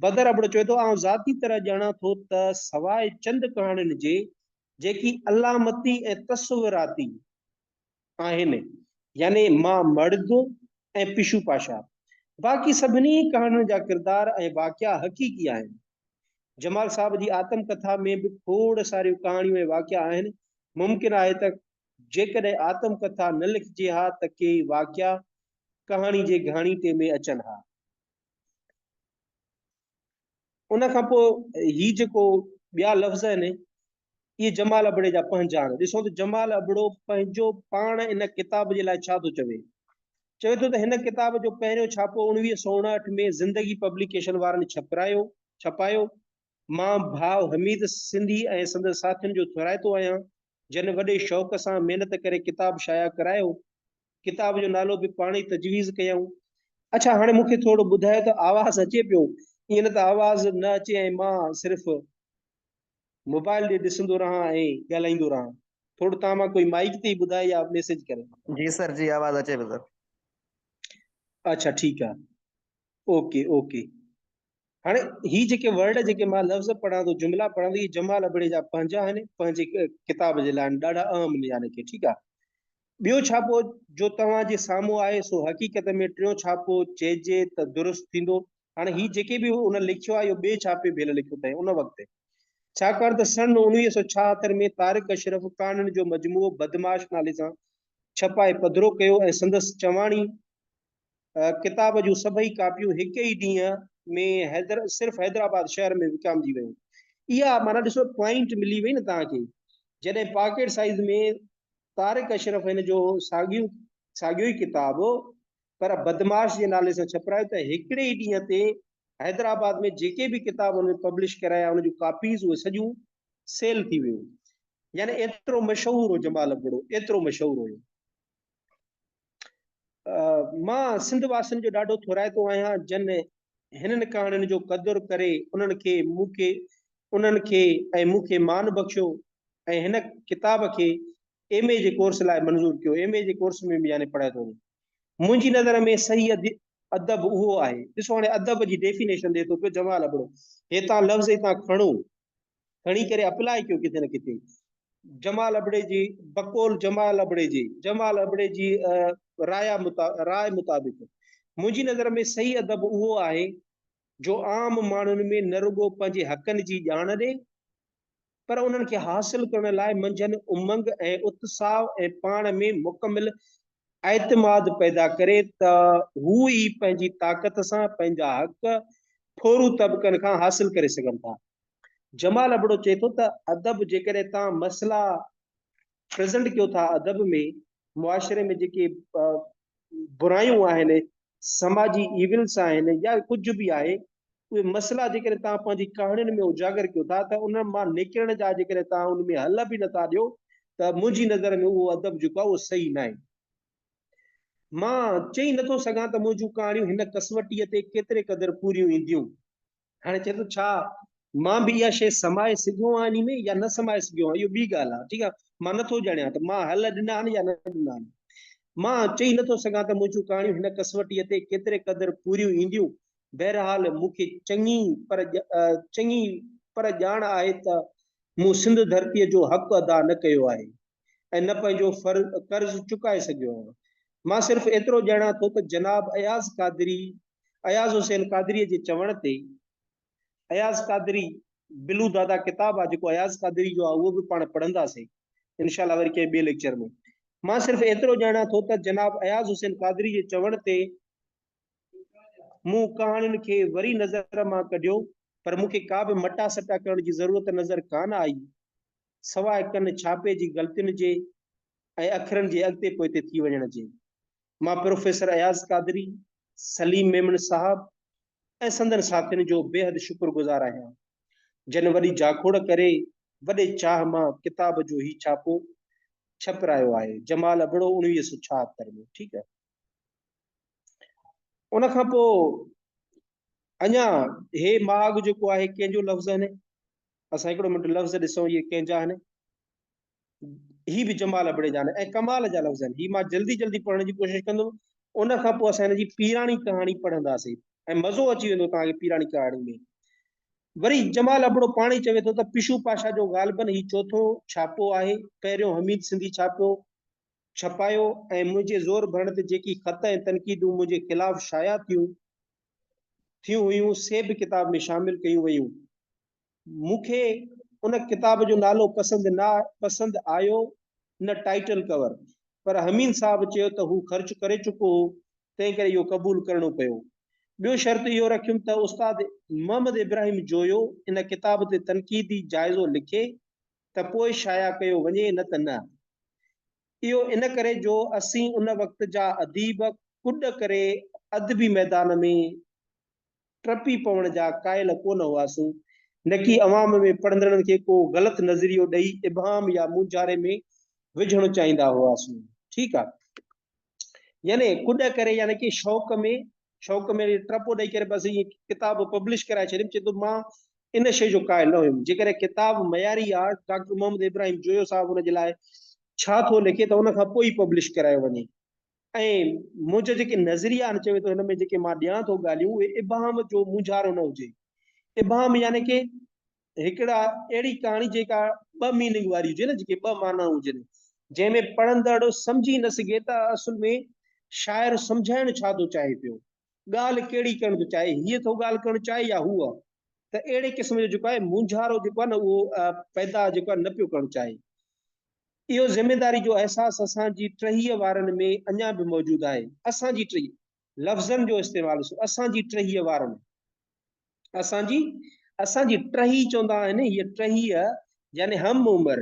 بدر ابڙو چوي ٿو آئون ذاتي طرح ڄاڻان ٿو ته سواء چند ڪهاڻين جي جيڪي علامتي ۽ تصوراتي آهن، يعني ماء مڙد ۽ پشو پاشا. باقي سڀني ڪهاڻين جا ڪردار ۽ واقعا حقيقي آهن. جمال صاحب جي آتم ڪٿا ۾ به کوڙ ساريون ڪهاڻيون ۽ واقعا آهن. ممڪن آهي ته جيڪڏهن آتم ڪٿا نه لکجي ها ته ڪيئي واقعا ڪهاڻي جي گهاڻيٽي ۾ اچن ها. ان کان پوء هي جيڪو ٻيا لفظ آهن اهي جمال ابڙي جا پنهنجا آهن ڏسو ته جمال ابڙو پنهنجو پاڻ ان ڪتاب جي لاء ڇا ٿو چوي چوي ٿو ته هن ڪتاب جو پهريون ڇاپو اڻويهه سو اڻهٺ ۾ زندگي پبليڪيشن وارن ڇپرايو ڇپايو مان ڀاء حميد سنڌي ۽ سندس ساٿين جو ٿورائتو آهيان جن وڏي شوق سان محنت ڪري ڪتاب شايع ڪرايو. ڪتاب جو نالو به پاڻ ئي تجويز ڪيائون. اڇا هاڻي مون کي ٿورو ٻڌايو ته آواز اچي پيو؟ ائين ته آواز نه اچي ۽ مان صرف موبائل ڏي ڏسندو رهان ۽ ڳالهائيندو رهان. ٿورو تان مان ڪوئي مائيڪ تي ئي ٻڌائي يا ميسيج ڪري. جي سر جي آواز اچي پيو سر. اڇا ٺيڪ آ اوڪي اوڪي. هاڻي هي جيڪي ورڊ جيڪي مان لفظ پڙهان ٿو جملا پڙهان ٿو هي جمال ابڙي جا پنهنجا آهن پنهنجي ڪتاب جي لاء ڏاڍا اهم ليا رکي ٺيڪ آهي ٻيو ڇاپو جو توهان جي سامهون آهي سو حقيقت ۾ ٽيون ڇاپو چئجي ته درست ٿيندو هاڻي هي جيڪي به ان لکيو آهي اهو ٻئي ڇاپي ڀيل لکيو اٿئي ان وقت ڇاڪاڻ ته سن اڻويهه سو ڇاهتر ۾ طارق اشرف ڪهاڻين جو مجموعو بدماش نالي سان ڇپائي پڌرو ڪيو ۽ سندس چواڻي ڪتاب جون سڀئي ڪاپيون هڪ ئي ڏينهن ۾ حيدر صرف حيدرآباد شهر ۾ وڪامجي ويون. اها معنيٰ ڏسو پوائنٽ ملي وئي نه توهان کي. جڏهن پاڪيٽ سائيز ۾ طارق اشرف هن جو ساڳيو ساڳيو ئي ڪتاب پر بدمعاش جي نالي سان ڇپرايو ته هڪڙي ئي ڏينهن تي حيدرآباد ۾ جيڪي به ڪتاب هن پبلش ڪرايا ان جون ڪاپيز اهي سڄيون سيل ٿي ويون. يعني ايترو مشهور هو جمال ابڙو ايترو مشهور هيو. مان سنڌ واسين جو ڏاڍو ٿورائتو آهيان جن هنن ڪهاڻين جو قدر ڪري انهن کي مون کي انهن کي ۽ مون کي مان بخشيو ۽ هن ڪتاب کي ايم اي جي ڪورس لاء منظور ڪيو ايم اي جي ڪورس ۾ به يعني پڙهايو ٿو منهنجي نظر ۾ صحيح ادب اهو آهي ڏسو هاڻي ادب جي ڊيفينيشن ڏي ٿو پيو جمال ابڙو هتان لفظ هتان کڻو کڻي ڪري اپلاء ڪيو ڪٿي نه ڪٿي. جمال ابڙي جي بقول جمال ابڙي جي جمال ابڙي جي رايا راء مطابق منهنجي نظر ۾ صحيح ادب اهو آهي جو عام ماڻهن ۾ نه رڳو پنهنجي حقن جي ڄاڻ ڏي پر انهن کي حاصل ڪرڻ لاء منجهن امنگ ۽ اتساء ۽ پاڻ ۾ مڪمل اعتماد پيدا ڪري ته هو ئي پنهنجي طاقت سان پنهنجا حق ٿورو طبقن کان حاصل ڪري سگهن ٿا جمال ابڙو چئي ٿو ته ادب جيڪڏهن توهان مسئلا پريزنٽ ڪيو ٿا ادب ۾ معاشري ۾ جيڪي برايون آهن سماجي ايولس آهن يا ڪجهه به آهي اهي مسئلا جيڪڏهن توهان پنهنجي ڪهاڻين ۾ اجاگر ڪيو ٿا ته ان مان نڪرڻ جا جيڪڏهن توهان ان ۾ حل به نٿا ڏيو ته منهنجي نظر ۾ اهو ادب جيڪو آهي اهو صحيح ناهي مان چئي نٿو سگهان ته منهنجون ڪهاڻيون هن ڪسوٽيء تي ڪيتري قدر پوريون اينديون هاڻي چئي ٿو ڇا مان به اها شيء سمائي سگهيو آهيان انهي ۾ يا نه سمائي سگهيو آهيان اهو ٻي ڳالهه آهي ٺيڪ آهي مان نٿو ڄاڻيان ته مان حل ڏنا آهن يا نه ڏنا آهن مان چئي نٿو سگهان ته منهنجون ڪهاڻيون هن ڪسوٽيء تي ڪيتري قدر پوريون اينديون بهرحال مون کي چڱي پر چڱي پر ڄاڻ آهي ته مون سنڌ ڌرتيء جو حق ادا نه ڪيو آهي ۽ نه پنهنجو قرض چڪائي سگهيو آهيان. مان صرف ايترو ڄاڻان ٿو ته جناب اياز قادري، اياز حسين قادريء جي چوڻ تي، اياز قادري، بلو دادا ڪتاب آهي جيڪو اياز قادري جو آهي اهو به پاڻ پڙهنداسين انشاء الله وري ڪنهن ٻئي ليڪچر ۾. مان صرف ايترو ڄاڻان ٿو ته جناب اياز حسين قادري جي چوڻ تي مون ڪهاڻين کي وري نظر مان ڪڍيو پر مون کي ڪا به مٽا سٽا ڪرڻ جي ضرورت نظر ڪانه آئي. سواء ڪن ڇاپي جي غلطين جي ۽ اکرن جي اڳتي پوئتي ٿي وڃڻ جي. مان پروفيسر اياز قادري، سليم ميمڻ صاحب ۽ سندن ساٿين جو بيحد شڪر گذار آهيان، جن وڏي جاکوڙ ڪري وڏي چاهه مان ڪتاب جو هي ڇاپو ڇپرايو آهي، جمال ابڙو اڻويهه سؤ ڇاهتر ۾ ٺيڪ آهي. ان کان پوء اڃا هي ماڳ جيڪو آهي ڪنهن جو لفظ آهن اسان هڪڙو منٽ لفظ ڏسون اهي ڪنهن جا آهن هي به جمال ابڙي جان ۽ ڪمال جا لفظ آهن هي مان جلدي جلدي پڙهڻ جي ڪوشش ڪندم ان کان پوء اسان هن جي پيراڻي ڪهاڻي پڙهنداسين ۽ مزو اچي ويندو توهان کي پيراڻي ڪهاڻي ۾ وري جمال ابڙو پاڻي چوي ٿو ته پشو پاشا جو غالبن هي چوٿون ڇاپو آهي پهريون حميد سنڌي ڇاپو ڇپايو ۽ منهنجي زور ڀرڻ تي جيڪي خط ۽ تنقيدون منهنجي خلاف شايع ٿيون ٿيون هيون سي به ڪتاب ۾ شامل ڪيون ويون مون کي ان ڪتاب جو نالو پسند نه پسند آيو نه ٽائيٽل ڪور پر حميد صاحب چيو ته هو خرچ ڪري چڪو هو تنهن ڪري اهو قبول ڪرڻو پيو ٻيو شرط اهو رکيم ته استاد محمد ابراهيم جويو ان ڪتاب تي تنقيدي جائزو لکي ته پوء شايع ڪيو وڃي نه ته نه اهو ان ڪري جو اسين ان وقت جا اديب ڪڏ ڪري ادبي ميدان ۾ ٽپي پوڻ جا قائل ڪونه هئاسون، نڪي عوام ۾ پڙهندڙن کي ڪو غلط نظريو ڏئي ابهام يا مونجهاري ۾ وجهڻ چاهيندا هئاسون. ٺيڪ آ. يعني ڪڏ ڪري يعني ڪي شوق ۾ شوق ۾ ٽپو ڏئي ڪري بس ائين ڪتاب پبلش ڪرائي ڇڏيم چي تو مان ان شيء جو قائل نه هيم. جيڪڏهن ڪتاب معياري آهي ته ڊاڪٽر محمد ابراهيم جويو صاحب ان جي لاء ڇا ٿو لکي ته ان کان پوء ئي پبلش ڪرايو وڃي ۽ منهنجا جيڪي نظريا آهن چوي ٿو هن ۾ جيڪي مان ڏيان ٿو ڳالهيون اهي ابهام جو مونجهارو نه هجي. ابهام يعني ڪي هڪڙا اهڙي ڪهاڻي جيڪا ٻه ميننگ واري هجي نه جيڪي ٻه معنائون هجن جنهن ۾ پڙهندڙ سمجهي نه سگهي ته اصل ۾ شاعر سمجهائڻ ڇا ٿو چاهي پيو. ڳالهه ڪهڙي ڪرڻ ٿو چاهي، هيء ٿو ڳالهه ڪرڻ چاهي يا هوء، ته اهڙي قسم جو جيڪو آهي مونجهارو جيڪو آهي نه اهو پيدا جيڪو آهي نه پيو ڪرڻ چاهي. اهو ذميداري جو احساس اسان جي ٽهيء وارن ۾ اڃا به موجود آهي. اسان جي ٽهيء لفظن جو استعمال ڏسو، اسان جي ٽهيء وارن، اسان جي، اسان جي ٽهيء چوندا آهن، هيء ٽهيء يعني هم عمر،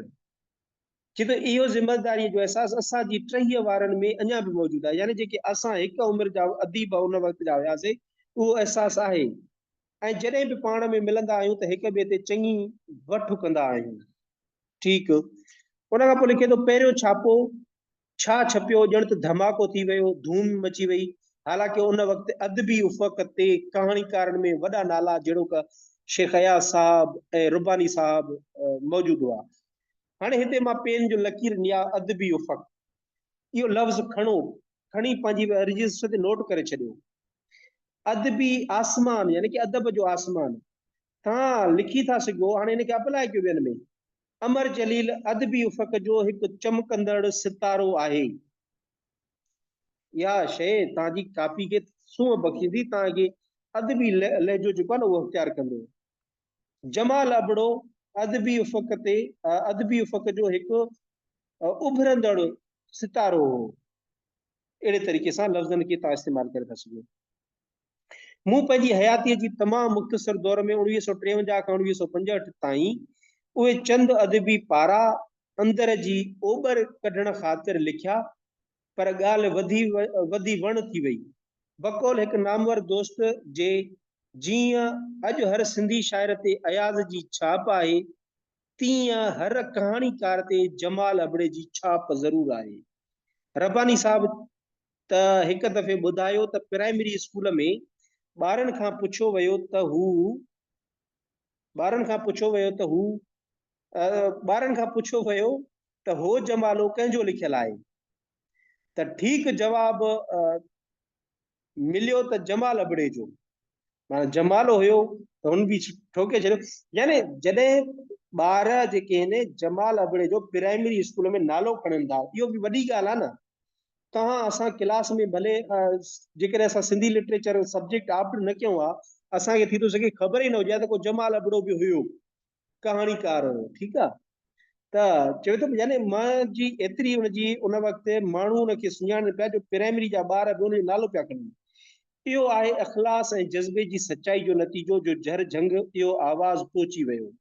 ڇي ته اهو ذميواريء جو احساس اسان جي ٽهيء وارن ۾ اڃا به موجود آهي، يعني جيڪي اسان هڪ عمر جا اديب ان وقت جا هياسين، اهو احساس آهي ۽ جڏهن به پاڻ ۾ ملندا آهيون ته هڪ ٻئي تي چڱي وٺ ڪندا آهيون. ٺيڪ. ان کان پوء لکي ٿو، پهريون ڇاپو ڇا ڇپيو، ڄڻ ته ڌماڪو ٿي ويو، ڌوم مچي وئي، حالانڪه ان وقت ادبي افق تي ڪهاڻيڪارن ۾ وڏا نالا جهڙوڪ شيخ اياز صاحب ۽ رباني صاحب موجود هئا، هاڻي هتي مان پين جو لڪير نيا ادبي افق اهو لفظ کڻو کڻي پنهنجي رجسٽر تي نوٽ ڪري ڇڏيو ادبي آسمان يعني ڪي ادب جو آسمان تان لکي ٿا سگهو هاڻي هن کي اپلائي ڪيو ٻين ۾ امر جليل ادبي افق جو هڪ چمڪندڙ ستارو آهي يا شي تان جي ڪاپي کي سونهن بخشيندي تان کي ادبي لهجو جيڪو آهي نه اهو اختيار ڪندو جمال ابڙو ادبي افق تي ادبي افق جو هڪ اڀرندڙ ستارو هو اهڙي طريقي سان لفظن کي تان استعمال ڪري ٿا سگهو مون پنهنجي حياتيء جي تمام مختصر دور ۾ اڻويهه سو ٽيونجاهه کان اڻويهه سو پنجهٺ تائين اهي چند ادبي پارا اندر جي اوٻر ڪڍڻ خاطر لکيا پر ڳالهه وڌي وڌي وڻ ٿي وئي. بقول هڪ نامور دوست جي جيئن اڄ هر سنڌي شاعر تي اياز جي ڇاپ آهي، تيئن هر ڪهاڻيڪار تي جمال ابڙي جي ڇاپ ضرور آهي. رباني صاحب ته هڪ دفعي ٻڌايو ته پرائمري اسڪول ۾ ٻارن کان پڇيو ويو ته هو ٻارن کان پڇيو ويو ته هو ٻارن کان پڇيو ويو ته هو جمالو ڪنهن جو لکيل آهي ته ٺيڪ جواب مليو ته جمال ابڙي جو مانا جمالو هيو ته هن به ٺوڪي ڇڏيو يعني جڏهن ٻار جيڪي آهن جمال ابڙي جو پرائمري اسڪول ۾ نالو کڻن ٿا اهو به وڏي ڳالهه آهي نه توهان اسان ڪلاس ۾ ڀلي جيڪڏهن اسان سنڌي لٽريچر سبجيڪٽ آپٽ نه ڪيو آهي اسانکي ٿي ٿو سگهي خبر ئي نه هجي ته ڪو جمال ابڙو به هيو ڪهاڻيڪار هو ٺيڪ آ ته چوي ٿو يعني مان جي ايتري ان جي ان وقت ماڻهو ان کي سڃاڻن پيا جو پرائمري جا ٻار به ان جو نالو پيا کڻن اهو آهي اخلاص ۽ جذبي جي سچائي جو نتيجو جو جهر جهنگ اهو آواز پهچي ويو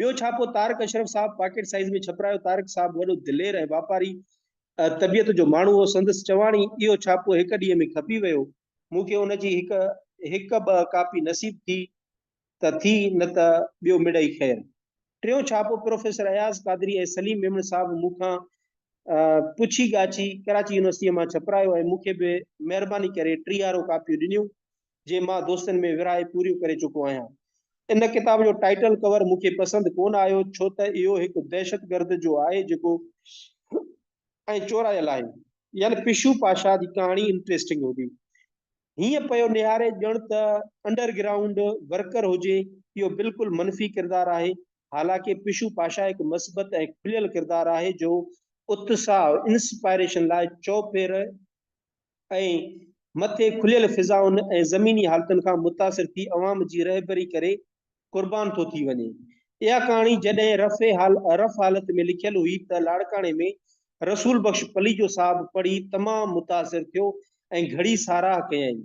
ٻيو ڇاپو تارڪ اشرف صاحب پاڪيٽ سائيز ۾ ڇپرايو تارڪ صاحب وڏو دلير ۽ واپاري طبيعت جو ماڻهو هو سندس چواڻي اهو ڇاپو هڪ ڏينهن ۾ کپي ويو مون کي ان جي هڪ هڪ ٻه ڪاپي نصيب ٿي ته ٿي نه ته ٻيو مڙئي خير. ٽيون ڇاپو پروفيسر اياز قادري ۽ سليم ميمڻ صاحب مون کان پڇي ڳاڇي ڪراچي يونيورسٽيء مان ڇپرايو ۽ مون کي به مهرباني ڪري ٽيهارو ڪاپيون ڏنيون، جي مان دوستن ۾ ورهائي پوريون ڪري چڪو آهيان. ان ڪتاب جو ٽائيٽل ڪور مون کي پسند ڪونه آيو، ڇو ته اهو هڪ دهشتگرد جو آهي جيڪو ۽ چورايل آهي. يعني پشو پاشا جي ڪهاڻي انٽريسٽنگ هوندي هيئن پيو نهاري ڄڻ ته انڊر گرائونڊ ورڪر هجي، اهو بلڪل منفي ڪردار آهي، حالانڪه پشو پاشا هڪ مثبت ۽ کليل ڪردار آهي جو اتساهه، Inspiration، لاء چؤڦير ۽ مٿي کليل فضائن ۽ زميني حالتن کان متاثر ٿي عوام جي رهبري ڪري قربان ٿو ٿي وڃي. اها ڪهاڻي جڏهن رف رف حالت ۾ لکيل هئي ته لاڙڪاڻي ۾ رسول بخش پليجو صاحب پڙهي تمام متاثر ٿيو ۽ گهڙي ساراهه ڪيائين.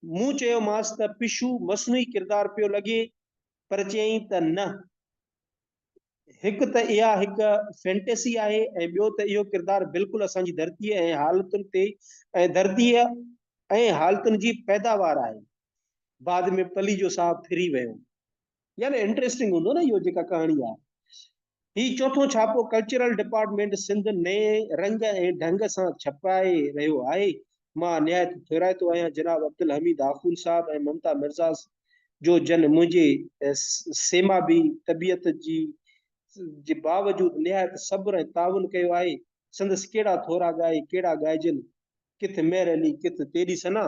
مون چيومانس ته پشو مصنوعي ڪردار پيو لڳي پر چيائين ته نه. هڪ ته اها هڪ فينٽيسي آهي ۽ ٻيو ته اهو ڪردار بلڪل اسان جي ڌرتيء ۽ حالتن تي ۽ ڌرتيء ۽ حالتن جي پيداوار آهي. بعد ۾ پليجو صاحب ڦري ويو. يعني انٽريسٽنگ هوندو نه اهو جيڪا ڪهاڻي آهي. هي چوٿون ڇاپو ڪلچرل ڊپارٽمينٽ سنڌ نئين رنگ ۽ ڍنگ سان ڇپرائي رهيو آهي مان نهايت ٿورائتو آهيان جناب عبدالحميد آخوند صاحب ۽ ممتا مرزا جو جن منهنجي سيمابي طبيعت جي جي باوجود نهايت صبر ۽ تعاون ڪيو آهي سندس ڪهڙا ٿورا ڳائي ڪهڙا ڳائجن ڪٿ مهر علي ڪٿ تيري ثنا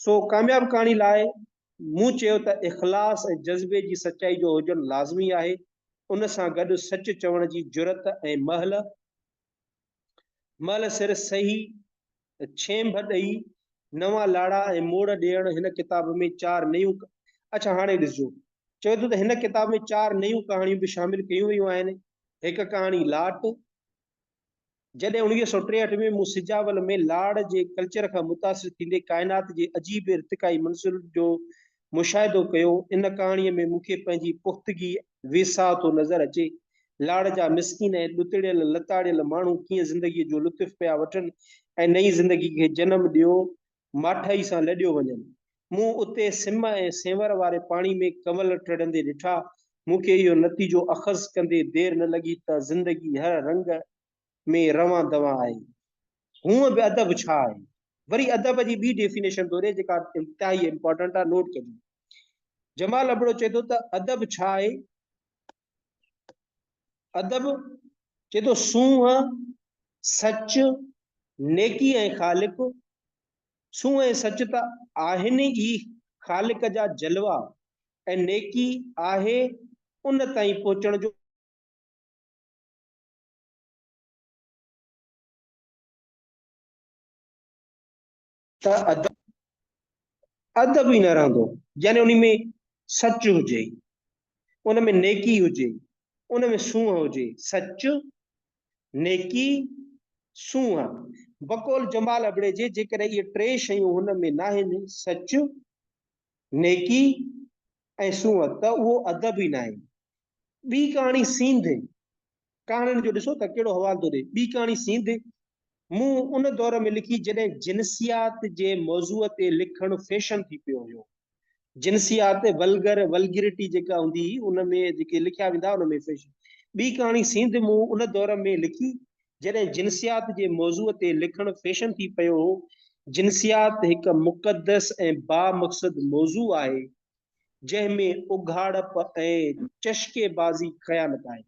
سو ڪامياب ڪهاڻي لاء مون چيو ته اخلاص ۽ جذبي جي سچائي جو هجڻ لازمي آهي ان سان گڏ سچ چوڻ جي جرئت ۽ مهل مئل سر سهي ڇينڀ ڏئي نوان لاڙا ۽ موڙ ڏيڻ هن ڪتاب ۾ چار نيون اڇا هاڻي ڏسجو چوي ٿو ته هن ڪتاب ۾ چار نيون ڪهاڻيون به شامل ڪيون ويون آهن هڪ ڪهاڻي لاٽ جڏهن انويهه سو ٽيهٺ ۾ مون سجاول ۾ لاڙ جي ڪلچر کان متاثر ٿيندي ڪائنات جي عجيب ارتقائي منزل جو مشاهدو ڪيو، ان ڪهاڻيء ۾ مون کي پنهنجي پختگي، ويساهه ٿو نظر اچي. لاڙ جا مسڪين ۽ ڏتڙيل لتاڙيل ماڻهو ڪيئن زندگيء جو لطف پيا وٺن ۽ نئين زندگيء کي جنم ڏيو ماٺائي سان لڏيو وڃن. مون اتي سم ۽ سينور واري پاڻي ۾ ڪنول ٽڙندي ڏٺا. مون کي اهو نتيجو اخذ ڪندي دير نه لڳي ته زندگي هر رنگ ۾ روان دوان آهي. هونء به ادب ڇا آهي؟ وري ادب جي ٻي ڊيفينيشن ٿو ڏي جيڪا انتهائي امپارٽنٽ آهي نوٽ ڪجو. جمال ابڙو چئي ٿو ته ادب ڇا آهي؟ ادب چئي ٿو سونهن، سچ، نيڪي ۽ خالق. سونهن ۽ سچ ته آهن ئي خالق جا جلوا ۽ نيڪي آهي ان تائين پهچڻ جو ته ادب ادب ئي نه رهندو يعني ان ۾ سچ هجي ان ۾ نيڪي هجي ان ۾ سونهن هجي سچ نيڪي سونهن بقول جمال ابڙي جي جيڪڏهن اهي ٽي شيون هن ۾ ناهن سچ نيڪي ۽ سونهن ته اهو ادب ئي ناهي. ٻي ڪهاڻي سينڌ ڪهاڻين جو ڏسو ته ڪهڙو حوالو ٿو ڏئي. ٻي ڪهاڻي سينڌ مون ان دور ۾ لکي جڏهن جنسيات جي موضوع تي لکڻ فيشن ٿي پيو هيو. جنسيات ولگر Vulgarity جيڪا هوندي هئي ان ۾ جيڪي لکيا ويندا ان ۾ فيشن. ٻي ڪهاڻي سينڌ مون ان دور ۾ لکي جڏهن جنسيات جي موضوع تي لکڻ فيشن ٿي پيو هو، جنسيات هڪ مقدس ۽ بامقصد موضوع آهي، جنهن ۾ اگهاڙپ ۽ چشڪي بازي خيانت آهي.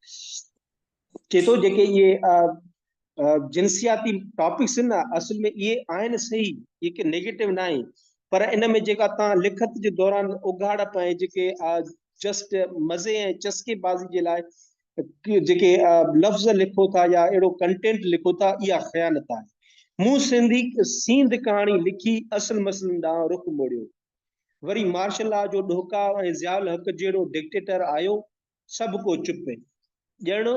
چئي ٿو جيڪي اهي جنسياتي ٽاپڪس آهن نه اصل ۾ اهي آهن صحيح، اهي ڪي نيگيٽو ناهي، پر ان ۾ جيڪا توهان لکت جي دوران اگهاڙپ ۽ جيڪي جسٽ مزي ۽ چسڪي بازي جي لاء جيڪي لفظ لکو ٿا يا اهڙو ڪنٽينٽ لکو ٿا اها خيانت آهي. مون سنڌي سينڌ ڪهاڻي لکي اصل مسئلن ڏانهن رخ موڙيو. وري مارشل لا جو ڏهڪاء ۽ ضياء الحق جهڙو ڊڪٽيٽر آيو سڀ ڪو چپ. ڄڻ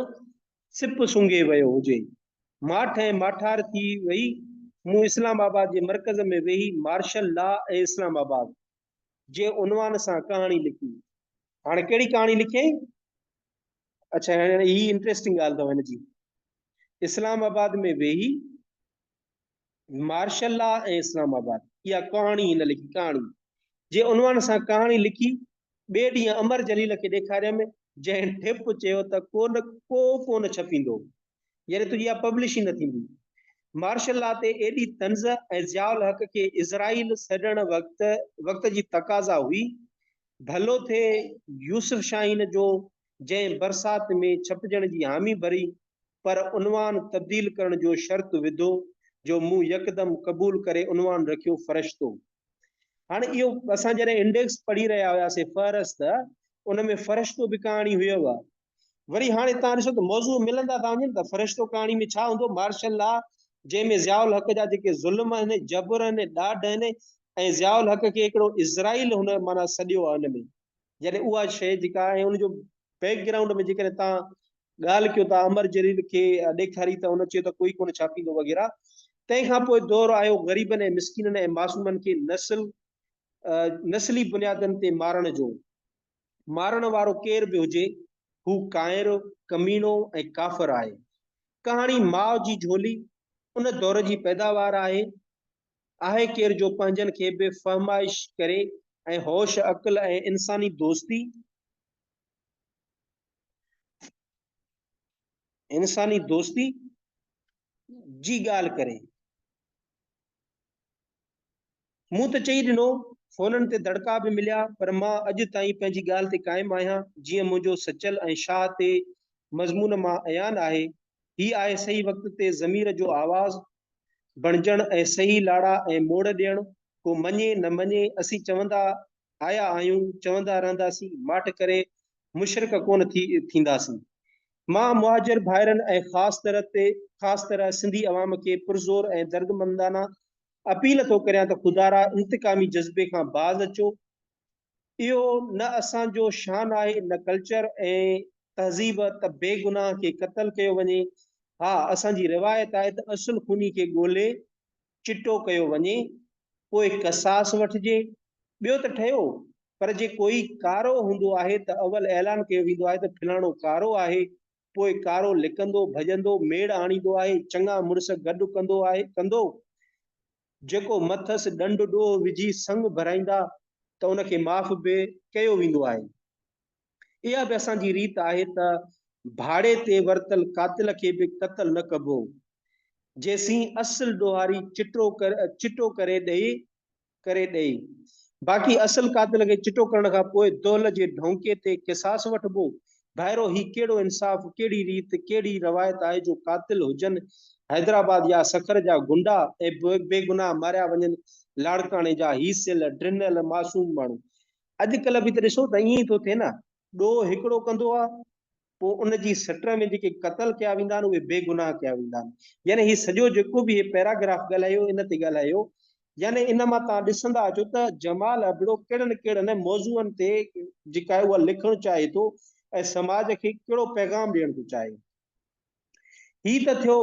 سپ سونگهي ويو هجي. ماٺ ۽ ماٺار ٿي وئي. مون اسلام آباد جي مرڪز ۾ ويهي مارشل لا ۽ اسلام آباد جي عنوان سان ڪهاڻي لکي. هاڻي ڪهڙي ڪهاڻي لکيائين؟ اڇا هاڻي هي انٽريسٽنگ ڳالهه اٿو هن جي. اسلام آباد ۾ ويهي مارشل لا ۽ اسلام آباد اها ڪهاڻي هن لکي ڪهاڻي جي عنوان سان ڪهاڻي لکي ٻئي ڏينهن امر جليل کي ڏيکاريم جنهن ٺپ چيو ته ڪو نه ڪو ڪونه ڇپيندو يعني تنهنجي اها پبلش ئي نه ٿيندي. مارشل لا تي ايڏي طنز ۽ ضياء الحق کي اسرائيل سڏڻ وقت وقت جي تقاضا هئي. ڀلو ٿئي يوسف شاهين جو جنهن برسات ۾ ڇپجڻ جي حامي ڀري پر عنوان تبديل ڪرڻ جو شرط وڌو جو مون يڪدم قبول ڪري عنوان رکيو فرشتو. هاڻ اهو اسان جڏهن انڊيڪس پڙهي رهيا هياسين فهرست ان ۾ فرشتو به ڪهاڻي هيو. وري هاڻي تان ڏسو ته موضوع ملندا ٿا وڃن ته فرشتو ڪهاڻي ۾ ڇا هوندو مارشل لا جنهن ۾ ضياء الحق جا جيڪي ظلم آهن جبر آهن ڏاڍ آهن ۽ ضياء الحق کي هڪڙو اسرائيل هن معنيٰ سڏيو آهي ان ۾ يعني اها شيء جيڪا آهي ان جو بيڪ گرائونڊ ۾ جيڪڏهن تان ڳالهه ڪيو ته امر جليل کي ڏيکاري ته هن چيو ته ڪوئي ڪونه ڇاپيندو وغيره تنهن کان پوء دور آيو غريبن ۽ مسڪينن ۽ معصومن کي نسل نسلي بنيادن تي مارڻ جو مارڻ وارو ڪير به هجي، هو ڪائر، ڪميڻو ۽ ڪافر آهي. ڪهاڻي ماء جي جهولي ان دور جي پيداوار آهي. آهي ڪير جو پنهنجن کي بي فهمائش ڪري ۽ هوش عقل ۽ انساني دوستي، انساني دوستي جي ڳالهه ڪري. مون ته چئي ڏنو، فونن تي دڙڪا به مليا، پر مان اڄ تائين پنهنجي ڳالهه تي قائم آهيان، جيئن منهنجو سچل ۽ شاهه تي مضمون مان عيان آهي. هي آهي صحيح وقت تي ضمير جو آواز بڻجڻ ۽ صحيح لاڙا ۽ موڙ ڏيڻ، ڪو مڃي نه مڃي، اسين چوندا آيا آهيون، چوندا رهنداسين، ماٺ ڪري مشرڪ ڪونه ٿي ٿينداسين. مان مهاجر ڀائرن ۽ خاص طرح تي خاص طرح سنڌي عوام کي پرزور ۽ دردمندانه اپيل ٿو ڪريان ته خدارا انتقامي جذبي کان باز اچو اهو نه اسان جو شان آهي نه ڪلچر ۽ تهذيب ته بي گناهه کي قتل ڪيو وڃي ها اسان جي روايت آهي ته اصل خوني کي ڳولي چٽو ڪيو وڃي، پوء قصاص وٺجي، ٻيو ته ٺهيو، پر جي ڪوئي ڪارو هوندو آهي ته اول اعلان ڪيو ويندو آهي ته فلاڻو ڪارو آهي، پوء ڪارو لڪندو، ڀڄندو، ميڙ آڻيندو آهي، چڱا مڙس گڏ ڪندو آهي، ڪندو، جيڪو مٿس ڏنڊ ڏوهه وجهي سڱ ڀرائيندا ته ان کي معاف به ڪيو ويندو آهي. اها به اسان جي ريت آهي ته ڀاڙي تي ورتل قاتل کي به قتل نه ڪبو، جيسين اصل ڏوهاري چٽو چٽو ڪري ڏئي ڪري ڏئي. باقي اصل قاتل کي چٽو ڪرڻ کان پوء دهل جي ڍونڪي تي قصاص وٺبو. ڀائرو هي ڪهڙو انصاف، ڪهڙي ريت، ڪهڙي روايت آهي جو قاتل هجن حيدرآباد يا سکر جا غنڊا ۽ بيگناهه ماريا وڃن لاڙڪاڻي جا هي سيل ڊنل معصوم ماڻهو اڄ ڪلهه به ته ڏسو ته ائين ئي ٿو ٿئي نه، ڏوهه هڪڙو ڪندو آهي، پوء ان جي سٽ ۾ جيڪي قتل ڪيا ويندا آهن اهي بيگناهه ڪيا ويندا آهن. يعني هي سڄو جيڪو به هي پيراگراف ڳالهايو ان تي ڳالهايو، يعني ان مان توهان ڏسندا اچو ته جمال ابڙو ڪهڙن ڪهڙن موضوعن تي جيڪا اها لکڻ چاهي ٿو ۽ سماج کي ڪهڙو پيغام ڏيڻ ٿو چاهي. هي ته ٿيو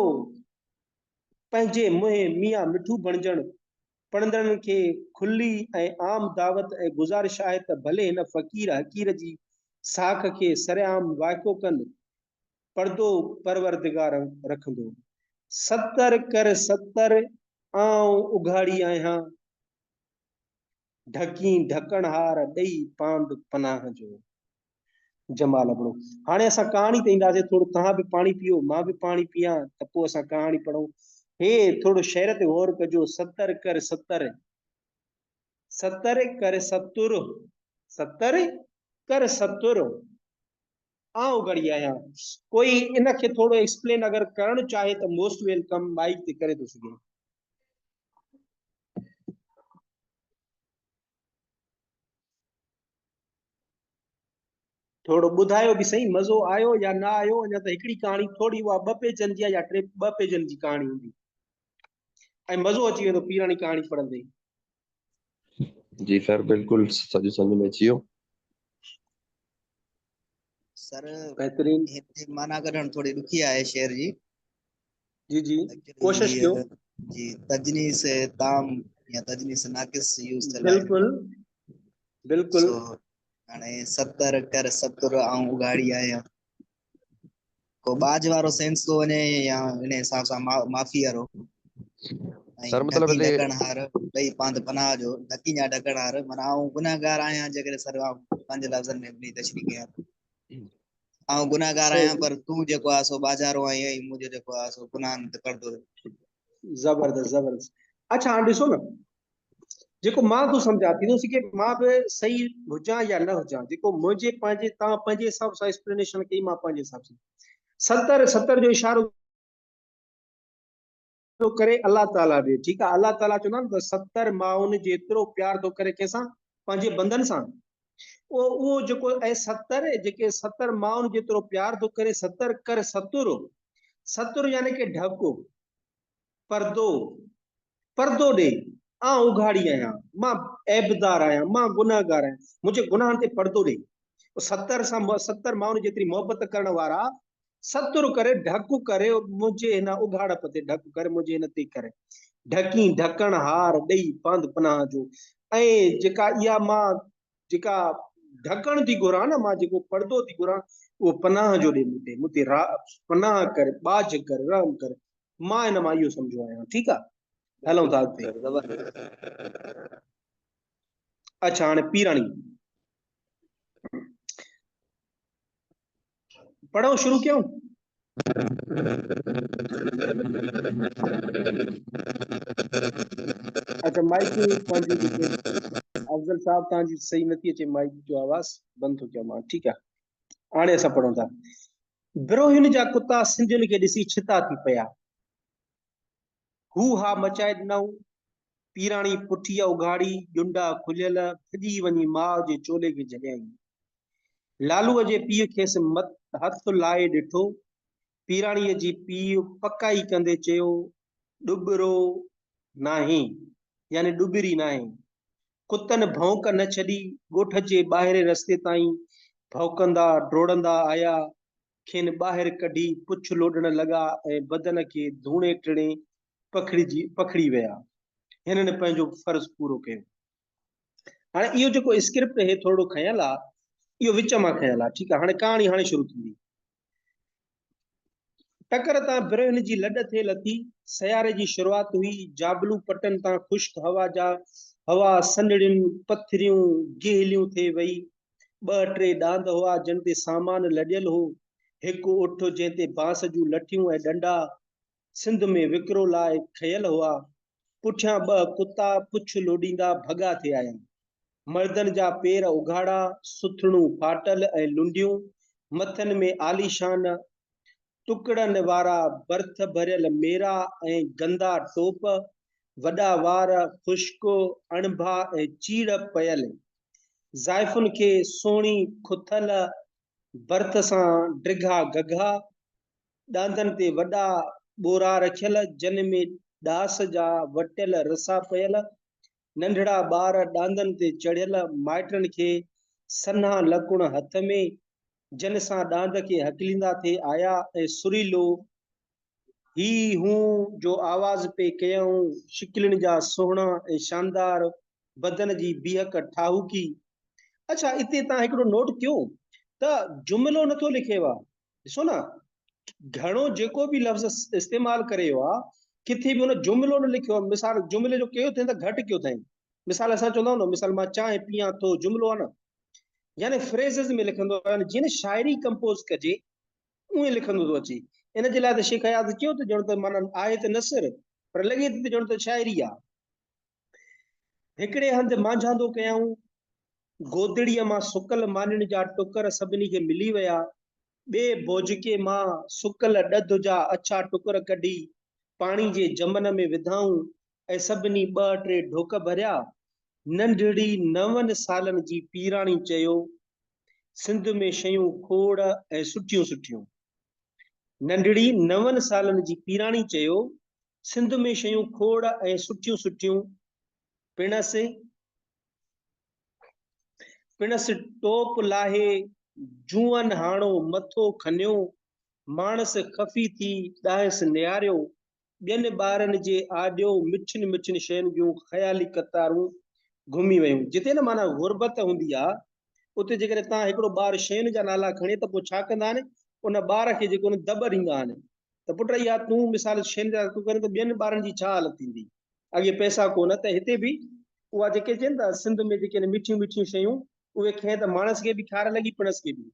پنهنجي منهن ميان مٺو بڻجڻ پڙهندڙن کي کلي ۽ عام دعوت ۽ گذارش آهي ته ڀلي هن فقير حقير جي ساک کي سرعام وائکو ڪن، پردو پروردگار رکندو. ستر ڪر ستر، آئون اگهاڙي آهيان، ڍڪين ڍڪڻهار ڏئي پاند پناهه جو. جمال ابڙو، هاڻي اسان ڪهاڻي تي اينداسين، ٿورو توهان به پاڻي پيئو، مان به پاڻي پيئان ته پوء اسان ڪهاڻي پڙهون. هي، ٿورو شعر تي غور ڪجو، ستر ڪر ستر. ستر ڪر ستر. ستر ڪر ستر. آء اگهڙي آهيان. ڪوئي ان کي ٿورو ايڪسپلين اگر ڪرڻ چاهي ته موسٽ ويلڪم مائيڪ تي ڪري ٿو سگهي. ٿورو ٻڌايو به سهي مزو آيو يا نه آيو اڃا ته هڪڙي ڪهاڻي ٿوري اها ٻه پيجن جي آهي يا ٽي ٻه پيجن جي ڪهاڻي هوندي ۽ مزو اچي ويندو پيراڻي ڪهاڻي پڙهندي جي سر بلڪل سڄو سمجھ ۾ اچي ويو سر بهترين هتي معنی ڪڍڻ ٿوري ڏکي آهي شعر جي جي جي ڪوشش ڪيو جي تجنيس تام يا تجنيس ناقص يوز ٿيل بلڪل بلڪل هاڻي 70 ڪر 70 آئون اگهاڙي آهيان ڪو ٻاجهه وارو سينس ٿو وڃي يا ان حساب سان معافي وارو سر ۽ مطلب ڍڪي هتي ڍڪڻ هار ڏئي پنڌ پناهه جو ڍڪي جا ڍڪڻ هار معنيٰ آئون گنهگار آهيان جيڪڏهن سر پنهنجي لفظن ۾ اپني تشريح ڪيان ٿو آئون گنهگار آهيان پر تون جيڪو آهي سو ٻاجهارو آهين ۽ منهنجو جيڪو آهي سو گناهن تي پڙدو زبردست زبردست اڇا هاڻ ڏسو نه جيڪو مان تون سمجهان ٿيندو سي کي مان به صحيح هجان يا نه هجان جيڪو منهنجي پنهنجي تان پنهنجي حساب سان ايڪسپلينيشن ڪئي مان پنهنجي حساب سان ستر ستر جو اشارو ٿو ڪري الله تعاليٰ ڏي ٺيڪ آهي الله تعاليٰ چوندا آهن ته ستر ماؤن جيترو پيار ٿو ڪري ڪنهن سان پنهنجي بندن سان او او جيڪو اي ستر جيڪي ستر ماؤن جيترو پيار ٿو ڪري ستر ڪر ستر ستر يعني ڪي ڍڪو پردو پردو ڏي، آء اگهاڙي آهيان، مان عيبدار آهيان، مان گنهگار آهيان، منهنجي گناهن تي پردو ڏي. ستر سان ستر ماڻهن جيتري محبت ڪرڻ وارا ستر ڪري ڍڪ ڪري منهنجي هن اگهاڙپ تي ڍڪ ڪري منهنجي هن تي ڪري ڍڪين ڍڪڻ هار ڏئي پنڌ پناهه جو ۽ جيڪا اها مان جيڪا ڍڪڻ ٿي گهران نه مان جيڪو پردو ٿي گهران اهو پناهه جو ڏي مون تي مون تي پناهه ڪر ٻاجهه ڪر رحم ڪر مان ان مان اهو سمجهيو آهيان ٺيڪ آ هلون ٿا اڳتي اچھا هاڻي پيراڻي پڙهو شروع ڪيون اچھا مائڪ افضل صاحب تان جي صحيح نٿي اچي مائڪ جو آواز بند ٿو ڪيان مان ٺيڪ آ هاڻي اسان پڙهون ٿا بروهين جا ڪتا سنڌين کي ڏسي ڇتا ٿي پيا. هو ها مچائي ڏنائون. پيراڻي پٺيء اگهاڙي، ڄنڊا کليل، ڀڄي وڃي ماء جي چولي کي جهليائين. لالوء جي پيء کيس مٿ هٿ لائي ڏٺو. پيراڻيء جي پيء پڪائي ڪندي چيو، ڏٻرو ناهين، يعني ڏٻري ناهين. ڪتن ڀونڪ نه ڇڏي، ڳوٺ جي ٻاهرئين رستي تائين ڀونڪندا ڊوڙندا آيا، کين ٻاهر ڪڍي پڇ لوڏڻ لڳا ۽ بدن کي ڌوڻي ٽڻي پکڙجي پکڙي ويا. هنن پنهنجو فرض پورو ڪيو. هاڻي اهو جيڪو اسڪرپٽ هي ٿورڙو کنيل آ، اهو وچ مان کنيل آ، ٺيڪ آ، هاڻي ڪهاڻي هاڻي شروع ٿيندي. ٽڪر تان برهن جي لڏ ٿي لٿي سياري جي شروعات هئي جابلو پٽن تان خشڪ هوا جا هوا سنڙين پٿريون گهليون ٿي وئي ٻه ٽي ڏاند هئا جن تي سامان لڏيل هو هڪ اٺ جنهن تي بانس جون لٺيون ۽ ڏنڊا سنڌ ۾ وڪرو لاء کنيل هئا، پٺيان ٻه ڪتا پڇ لوڏيندا ڀڳا ٿي آيا. مردن جا پير اگهاڙا، سٿڻون ڦاٽل ۽ لنڊيون، مٿن ۾ عاليشان ٽڪڙن وارا برٿ ڀريل ميرا ۽ گندا ٽوپ، وڏا وار، خشڪ اڻڀا ۽ چيڙ پيل. زائفن کي سهڻي کٿل برٿ سان ڊگها گگها، ڏاندن تي وڏا ٻورا رکيل، جن ۾ ڏاس جا وٽيل رسا پيل، ننڍڙا ٻار ڏاندن تي چڙهيل، مائٽن کي سنها لڪڻ هٿ ۾، جن سان ڏاند کي هڪليندا ٿي آيا ۽ سريلو هي هون جو آواز پئي ڪيائون، شڪلين جا سهڻا ۽ شاندار، بدن جي بيهڪ ٺاهوڪي. اڇا اتي تان هڪڙو نوٽ ڪيو ته جملو نٿو لکيو آهي، ڏسو نه گهڻو جيڪو به لفظ استعمال ڪري ويو آهي ڪٿي به ان جملو نه لکيو آهي مثال جملي جو ڪيو اٿئين ته گهٽ ڪيو اٿئين مثال اسان چوندا آهيون نه مثال مان چانهه پيان ٿو جملو آهي نه يعني فريزز ۾ لکندو آهي جيئن شاعري ڪمپوز ڪجي اونئين لکندو ٿو اچي ان جي لاء ته شيخ اياز چيو ته ڄڻ ته معنی آهي ته نثر پر لڳي ٿي ته ڄڻ ته شاعري آهي هڪڙي هنڌ مانجهاندو ڪيائون. گودڙيء مان سڪل مانين جا ٽڪر سڀني کي ملي ويا. ٻئي بوجڪي مان سڪل ڏڌ جا اڇا ٽڪر ڪڍي پاڻي جي جمن ۾ وڌائون ۽ سڀني ٻه ٽي ڍوڪ ڀريا. ننڍڙي نون سالن جي پيراڻي چيو، سنڌ ۾ شيون کوڙ ۽ سٺيون سٺيون. ننڍڙي نون سالن جي پيراڻي چيو، سنڌ ۾ شيون کوڙ ۽ سٺيون سٺيون پڻس پڻس ٽوپ لاهي جوئن هاڻو مٿو کنيو ماڻس خفي ٿي ڏانهس نهاريو ٻين ٻارن جي آڏيو مٺين مٺين شين جون خيالي قطارون گهمي ويون جتي نه معنيٰ غربت هوندي آ اتي جيڪڏهن تان هڪڙو ٻار شين جا نالا کڻي ته پوء ڇا ڪندا آهن ان ٻار کي جيڪو نه دٻ ڏيندا آهن ته پٽ اها تون مثال شين جا تون ڪرين ته ٻين ٻارن جي ڇا حالت ٿيندي اڳي پئسا ڪونه ته هتي به اها جيڪي چين ته سنڌ ۾ جيڪي مٺيون مٺيون شيون اهي کين ته ماڻس کي به کار لڳي پڻس کي به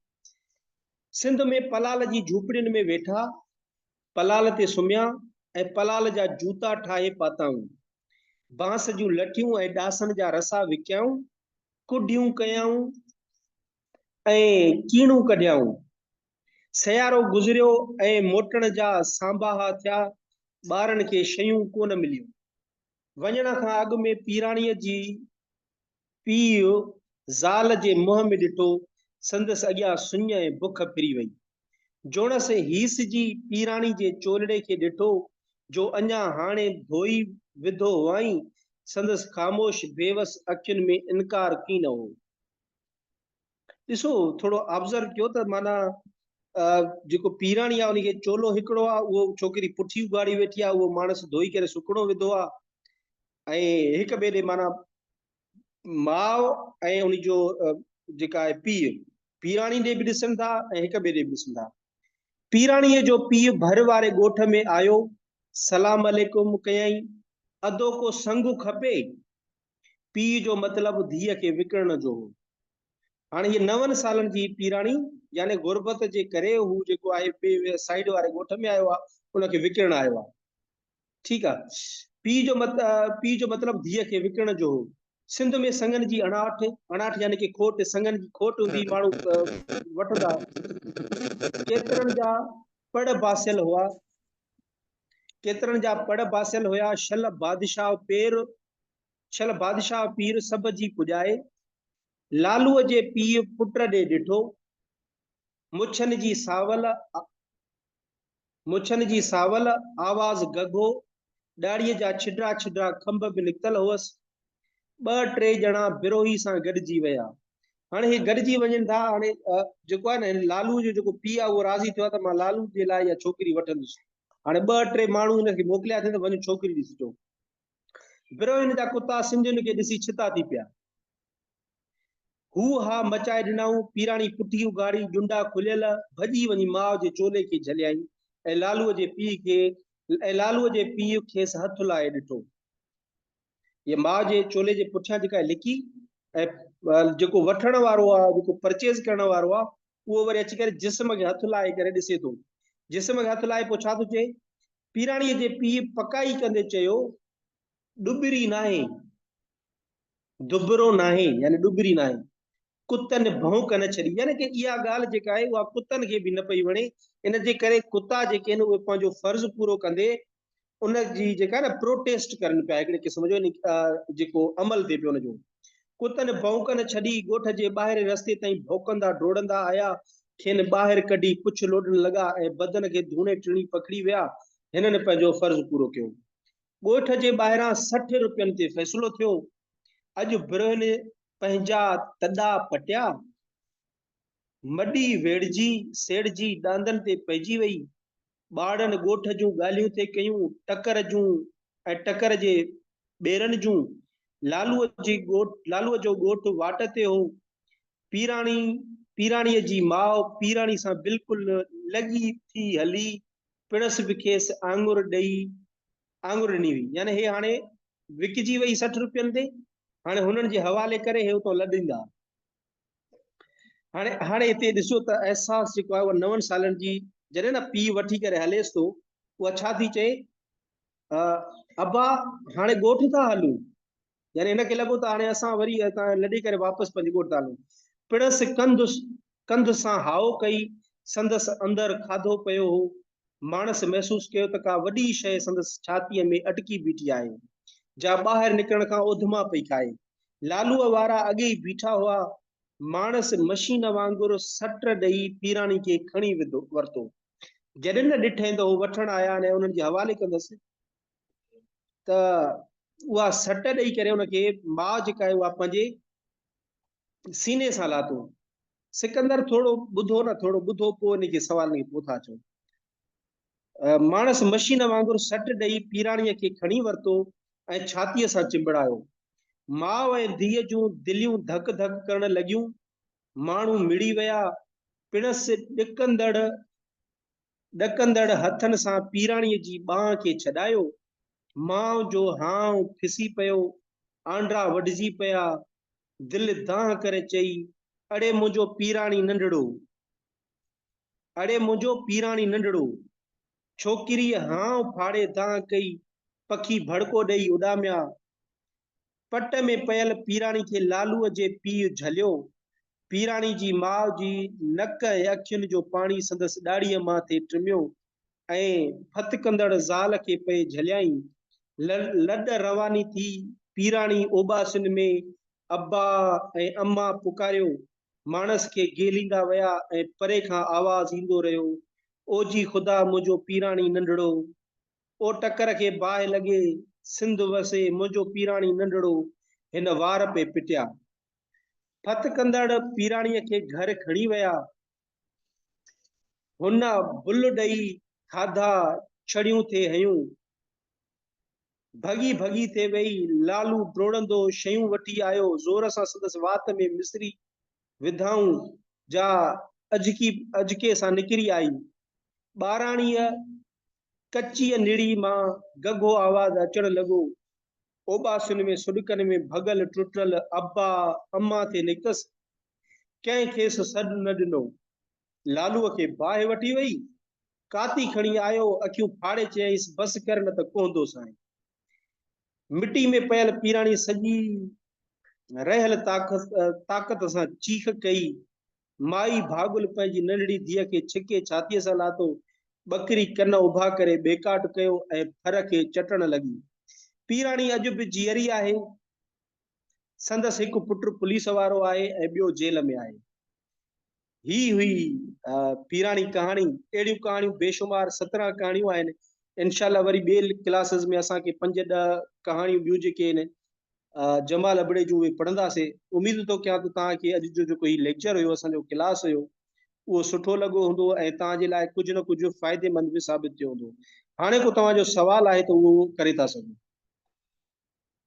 سنڌ ۾ پلال جي جھوپڙين ۾ ويٺا پلال تي سمهيا ۽ پلال جا جوتا ٺاهي پاتائون بانس جون لٺيون ۽ ڏاسن جا رسا وڪيائون ڪڍيون ڪيائون ۽ ڪيڻون ڪڍيائون سيارو گذريو ۽ موٽڻ جا سانباها ٿيا، ٻارن کي شيون ڪونه مليون. وڃڻ کان اڳ ۾ پيراڻيء جي پيء زال جي منهن ۾ ڏٺو، سندس اڳيان سڃ ۽ بک ڦري وئي. جوڻس هيس جي پيراڻي جي چولڙي کي ڏٺو، جو اڃا هاڻي ڌوئي وڌو هئائين، سندس خاموش بيوس اکين ۾ انڪار ڪين هو. ڏسو ٿورو آبزرو ڪيو ته معنيٰ جيڪو پيراڻي آهي ان کي چولو هڪڙو آهي اهو ڇوڪري پٺي اگهاڙي ويٺي آهي اهو ماڻس ڌوئي ڪري سڪڻو وڌو آهي ۽ هڪ ٻئي ڏي معنيٰ ماء ۽ ان جو جيڪا آهي پيء پيراڻي ڏي به ڏسن ٿا ۽ هڪ ٻئي ڏي به ڏسن ٿا پيراڻي جو پيء ڀر واري ڳوٺ ۾ آيو سلام عليڪم ڪيائين ادو ڪو سنگ کپي پيء جو مطلب ڌيء کي وڪڻڻ جو هو. هاڻ هيء نون سالن جي پيراڻي يعني غربت جي ڪري هو جيڪو آهي ٻئي سائيڊ واري ڳوٺ ۾ آيو آهي، ان کي وڪڻڻ آيو آهي. ٺيڪ آهي. پيء جو پيء جو مطلب ڌيء کي وڪڻڻ جو هو. سنڌ ۾ سڱن جي اڻاٺ، اڻاٺ يعني ڪي کوٽ، سڱن جي کوٽ هوندي هئي، ماڻهو وٺندا هئا. ڪيترن جا پڙ باسيل هئا، ڪيترن جا پڙ باسيل هيا، شل بادشاهه پير شل بادشاهه پير سڀ جي پڄائي، لالوء جي پيء پٽ ڏي ڏٺو، مڇن جي ساول مڇن جي ساول آواز گگهو، ڏاڙهيء جا ڇڊرا ڇڊرا کنڀ به نڪتل هئس، ٻه ٽي ڄڻا بروهي سان گڏجي ويا. هاڻي هي گڏجي وڃن ٿا. هاڻي جيڪو آهي نه هن لالو جو جيڪو پيء آهي اهو راضي ٿيو آهي ته مان لالو جي لاء اها ڇوڪري وٺندس. هاڻي ٻه ٽي ماڻهو هن کي موڪليا اٿئي ته وڃو ڇوڪري ڏسي اچو. بروهين جا ڪتا سنڌين کي ڏسي ڇتا ٿي پيا. هو ها مچائي ڏنائون، پيراڻي پٺي اگهاڙي، ڄنڊا کليل، ڀڄي وڃي ماء جي چولي کي جهليائين ۽ لالو جي پيء کي ۽ لالو جي پيء کيس هٿ لائي ڏٺو. هيء ماء جي چولي جي پٺيان جيڪا لڪي ۽ جيڪو وٺڻ وارو آهي، جيڪو پرچيز ڪرڻ وارو آهي، اهو وري اچي ڪري جسم کي هٿ لائي ڪري ڏسي ٿو. جسم کي هٿ لائي پوء ڇا ٿو چئي؟ پيراڻيء جي پيء پڪائي ڪندي چيو، ڏٻري ناهي، دٻرو ناهي يعني ڏٻري ناهي. ڪتن ڀونڪ نه ڇڏي، يعني ڪي اها ڳالهه جيڪا آهي اها ڪتن کي به نه پئي وڻي، ان جي ڪري ڪتا جيڪي آهن اهي پنهنجو فرض پورو ڪندي ان جي جيڪا نه پروٽيسٽ ڪرن پيا هڪڙي قسم جو جيڪو عمل ٿئي پيو ان جو ڪتن ڀونڪ نه ڇڏي ڳوٺ جي ٻاهرين رستي تائين ڀونڪندا ڊوڙندا آيا کين ٻاهر ڪڍي پڇ لوڏڻ لڳا ۽ بدن کي ڌوڻي ٽڻي پکڙي ويا هنن پنهنجو فرض پورو ڪيو ڳوٺ جي ٻاهران سٺ روپين تي فيصلو ٿيو. اڄ برهن پنهنجا تڏا پٽيا. مڏي ويڙهجي سيڙجي ڏاندن تي پئجي وئي. ٻارڙن ڳوٺ جون ڳالهيون ٿي ڪيون، ٽڪر جون ۽ ٽڪر جي ٻيرن جون. لالوء جي لالوء جو ڳوٺ واٽ تي هو. پيراڻي پيراڻيء جي ماء پيراڻي سان بلڪل لڳي ٿي هلي. پڻس به کيس آڱر ڏئي آڱر ڏني وئي يعني هي هاڻي وڪجي وئي سٺ روپين تي هاڻي هنن جي حوالي ڪري هي اتو لڏيندا هاڻي هاڻي هتي ڏسو ته احساس جيڪو آهي اهو نون سالن جي جڏهن نه پي وٺي ڪري هليس ٿو اها ڇا ٿي چئي ابا هاڻي ڳوٺ ٿا هلون يعني هن کي لڳو ته هاڻي اسان وري اتان لڏي ڪري واپس پنهنجي ڳوٺ ته هلون. پڻس ڪنڌ ڪنڌ سان هاء ڪئي. سندس اندر کاڌو پيو هو. ماڻس محسوس ڪيو ته ڪا وڏي شيء سندس ڇاتيء ۾ اٽڪي بيٺي آهي، جا ٻاهر نڪرڻ کان اوڌما پئي کائي. لالوء وارا اڳي ئي بيٺا هئا. ماڻس مشين وانگر سٽ ڏئي پيراڻي کي کڻي وڌو ورتو. جڏهن نه ڏٺئين ته هو وٺڻ آيا ۽ انهن جي حوالي ڪندس. ته اها سٽ ڏئي ڪري ان کي ماء جيڪا آهي اها پنهنجي سيني سان لاتو. سڪندر ٿورو ٻڌو نه ٿورو ٻڌو پوء ان کي سوال نڪي پوء ٿا چئو. ماڻس مشين وانگر سٽ ڏئي پيراڻيء کي کڻي ورتو ۽ ڇاتيء سان چنبڙايو. ماء ۽ ڌيء جون دليون ڌڪ ڌڪ ڪرڻ لڳيون. ماڻهو مڙي ويا. پڻس ڏڪندڙ ڏڪندڙ هٿن سان پيراڻيء جي ٻانهن کي ڇڏايو. ماء جو هانء کسي پيو، آنڊرا وڍجي پيا. دل دانهن ڪري چئي، اڙي منهنجو پيراڻي ننڍڙو! اڙي منهنجو پيراڻي ننڍڙو! ڇوڪريء هانء ڦاڙي دانهن ڪئي، پکي ڀڙڪو ڏيئي اڏاميا. پٽ ۾ پيل پيراڻي کي لالوء جي پيء جهليو. پيراڻي جي ماء جي نڪ ۽ اکين جو پاڻي سندس ڏاڙهيء مان ٿي ٽميو ۽ ڦٿڪندڙ زال کي پئي جهليائين. لڏ رواني ٿي پيراڻي اوٻاسين ۾ ابا ۽ اما پڪاريو. ماڻس کي گهيليندا ويا ۽ پري کان آواز ايندو رهيو، اوجي خدا منهنجو پيراڻي ننڍڙو! او ٽڪر کي باهه لڳي، سنڌ وسي، منهنجو پيراڻي ننڍڙو، هن وار پئي پٽيا. ڦت ڪندڙ پيراڻيء کي گهر کڻي ويا. هن بل ڏئي کاڌا ڇڙيون ٿي هيون. ڀڳي ڀڳي ٿي ويئي. لالو ڊوڙندو شيون وٺي آيو. زور سان سندس وات ۾ مصري وڌائون جا اجڪي اجڪي سان نڪري آئي. ٻاراڻيء ڪچيء نڙيء مان گگهو آواز اچڻ لڳو. اوٻاسين ۾ سڏڪن ۾ ڀڳل ٽٽل ابا اما تي نڪتس. ڪنهن کيس سڏ نه ڏنو. لالوء کي باهه وٺي ويئي. ڪاتي کڻي آيو، اکيون ڦاڙي چيائينس، بس ڪر نه ته ڪهندو سائين. مٽيء ۾ پيل پيراڻيء سڄي رهيل طاقت سان چيخ ڪئي، مائي ڀاڳل پنهنجي ننڍڙي ڌيء کي ڇڪي ڇاتيء سان لاتو، ٻڪري ڪن اڀا ڪري ٻيڪاٽ ڪيو ۽ ڦر کي چٽڻ لڳي. پيراڻي اڄ به جيئري آهي. سندس هڪ پٽ پوليس وارو آهي ۽ ٻيو جيل ۾ آهي. هي هئي پيراڻي ڪهاڻي. اهڙيون ڪهاڻيون بيشمار سترهن ڪهاڻيون آهن. انشاء الله وري ٻين ڪلاسز ۾ اسان کي پنج ڏهه ڪهاڻيون ٻيون جيڪي آهن جمال ابڙي جون اهي پڙهنداسي. اميد ٿو ڪيان ته توهان کي اڄ جو جيڪو هي ليڪچر هيو، اسان جو ڪلاس هيو، اهو سٺو لڳو هوندو ۽ توهان جي لاء ڪجهه نه ڪجهه فائديمند به ثابت ٿيو هوندو. هاڻي ڪو توهان جو سوال آهي ته اهو ڪري ٿا سگهو.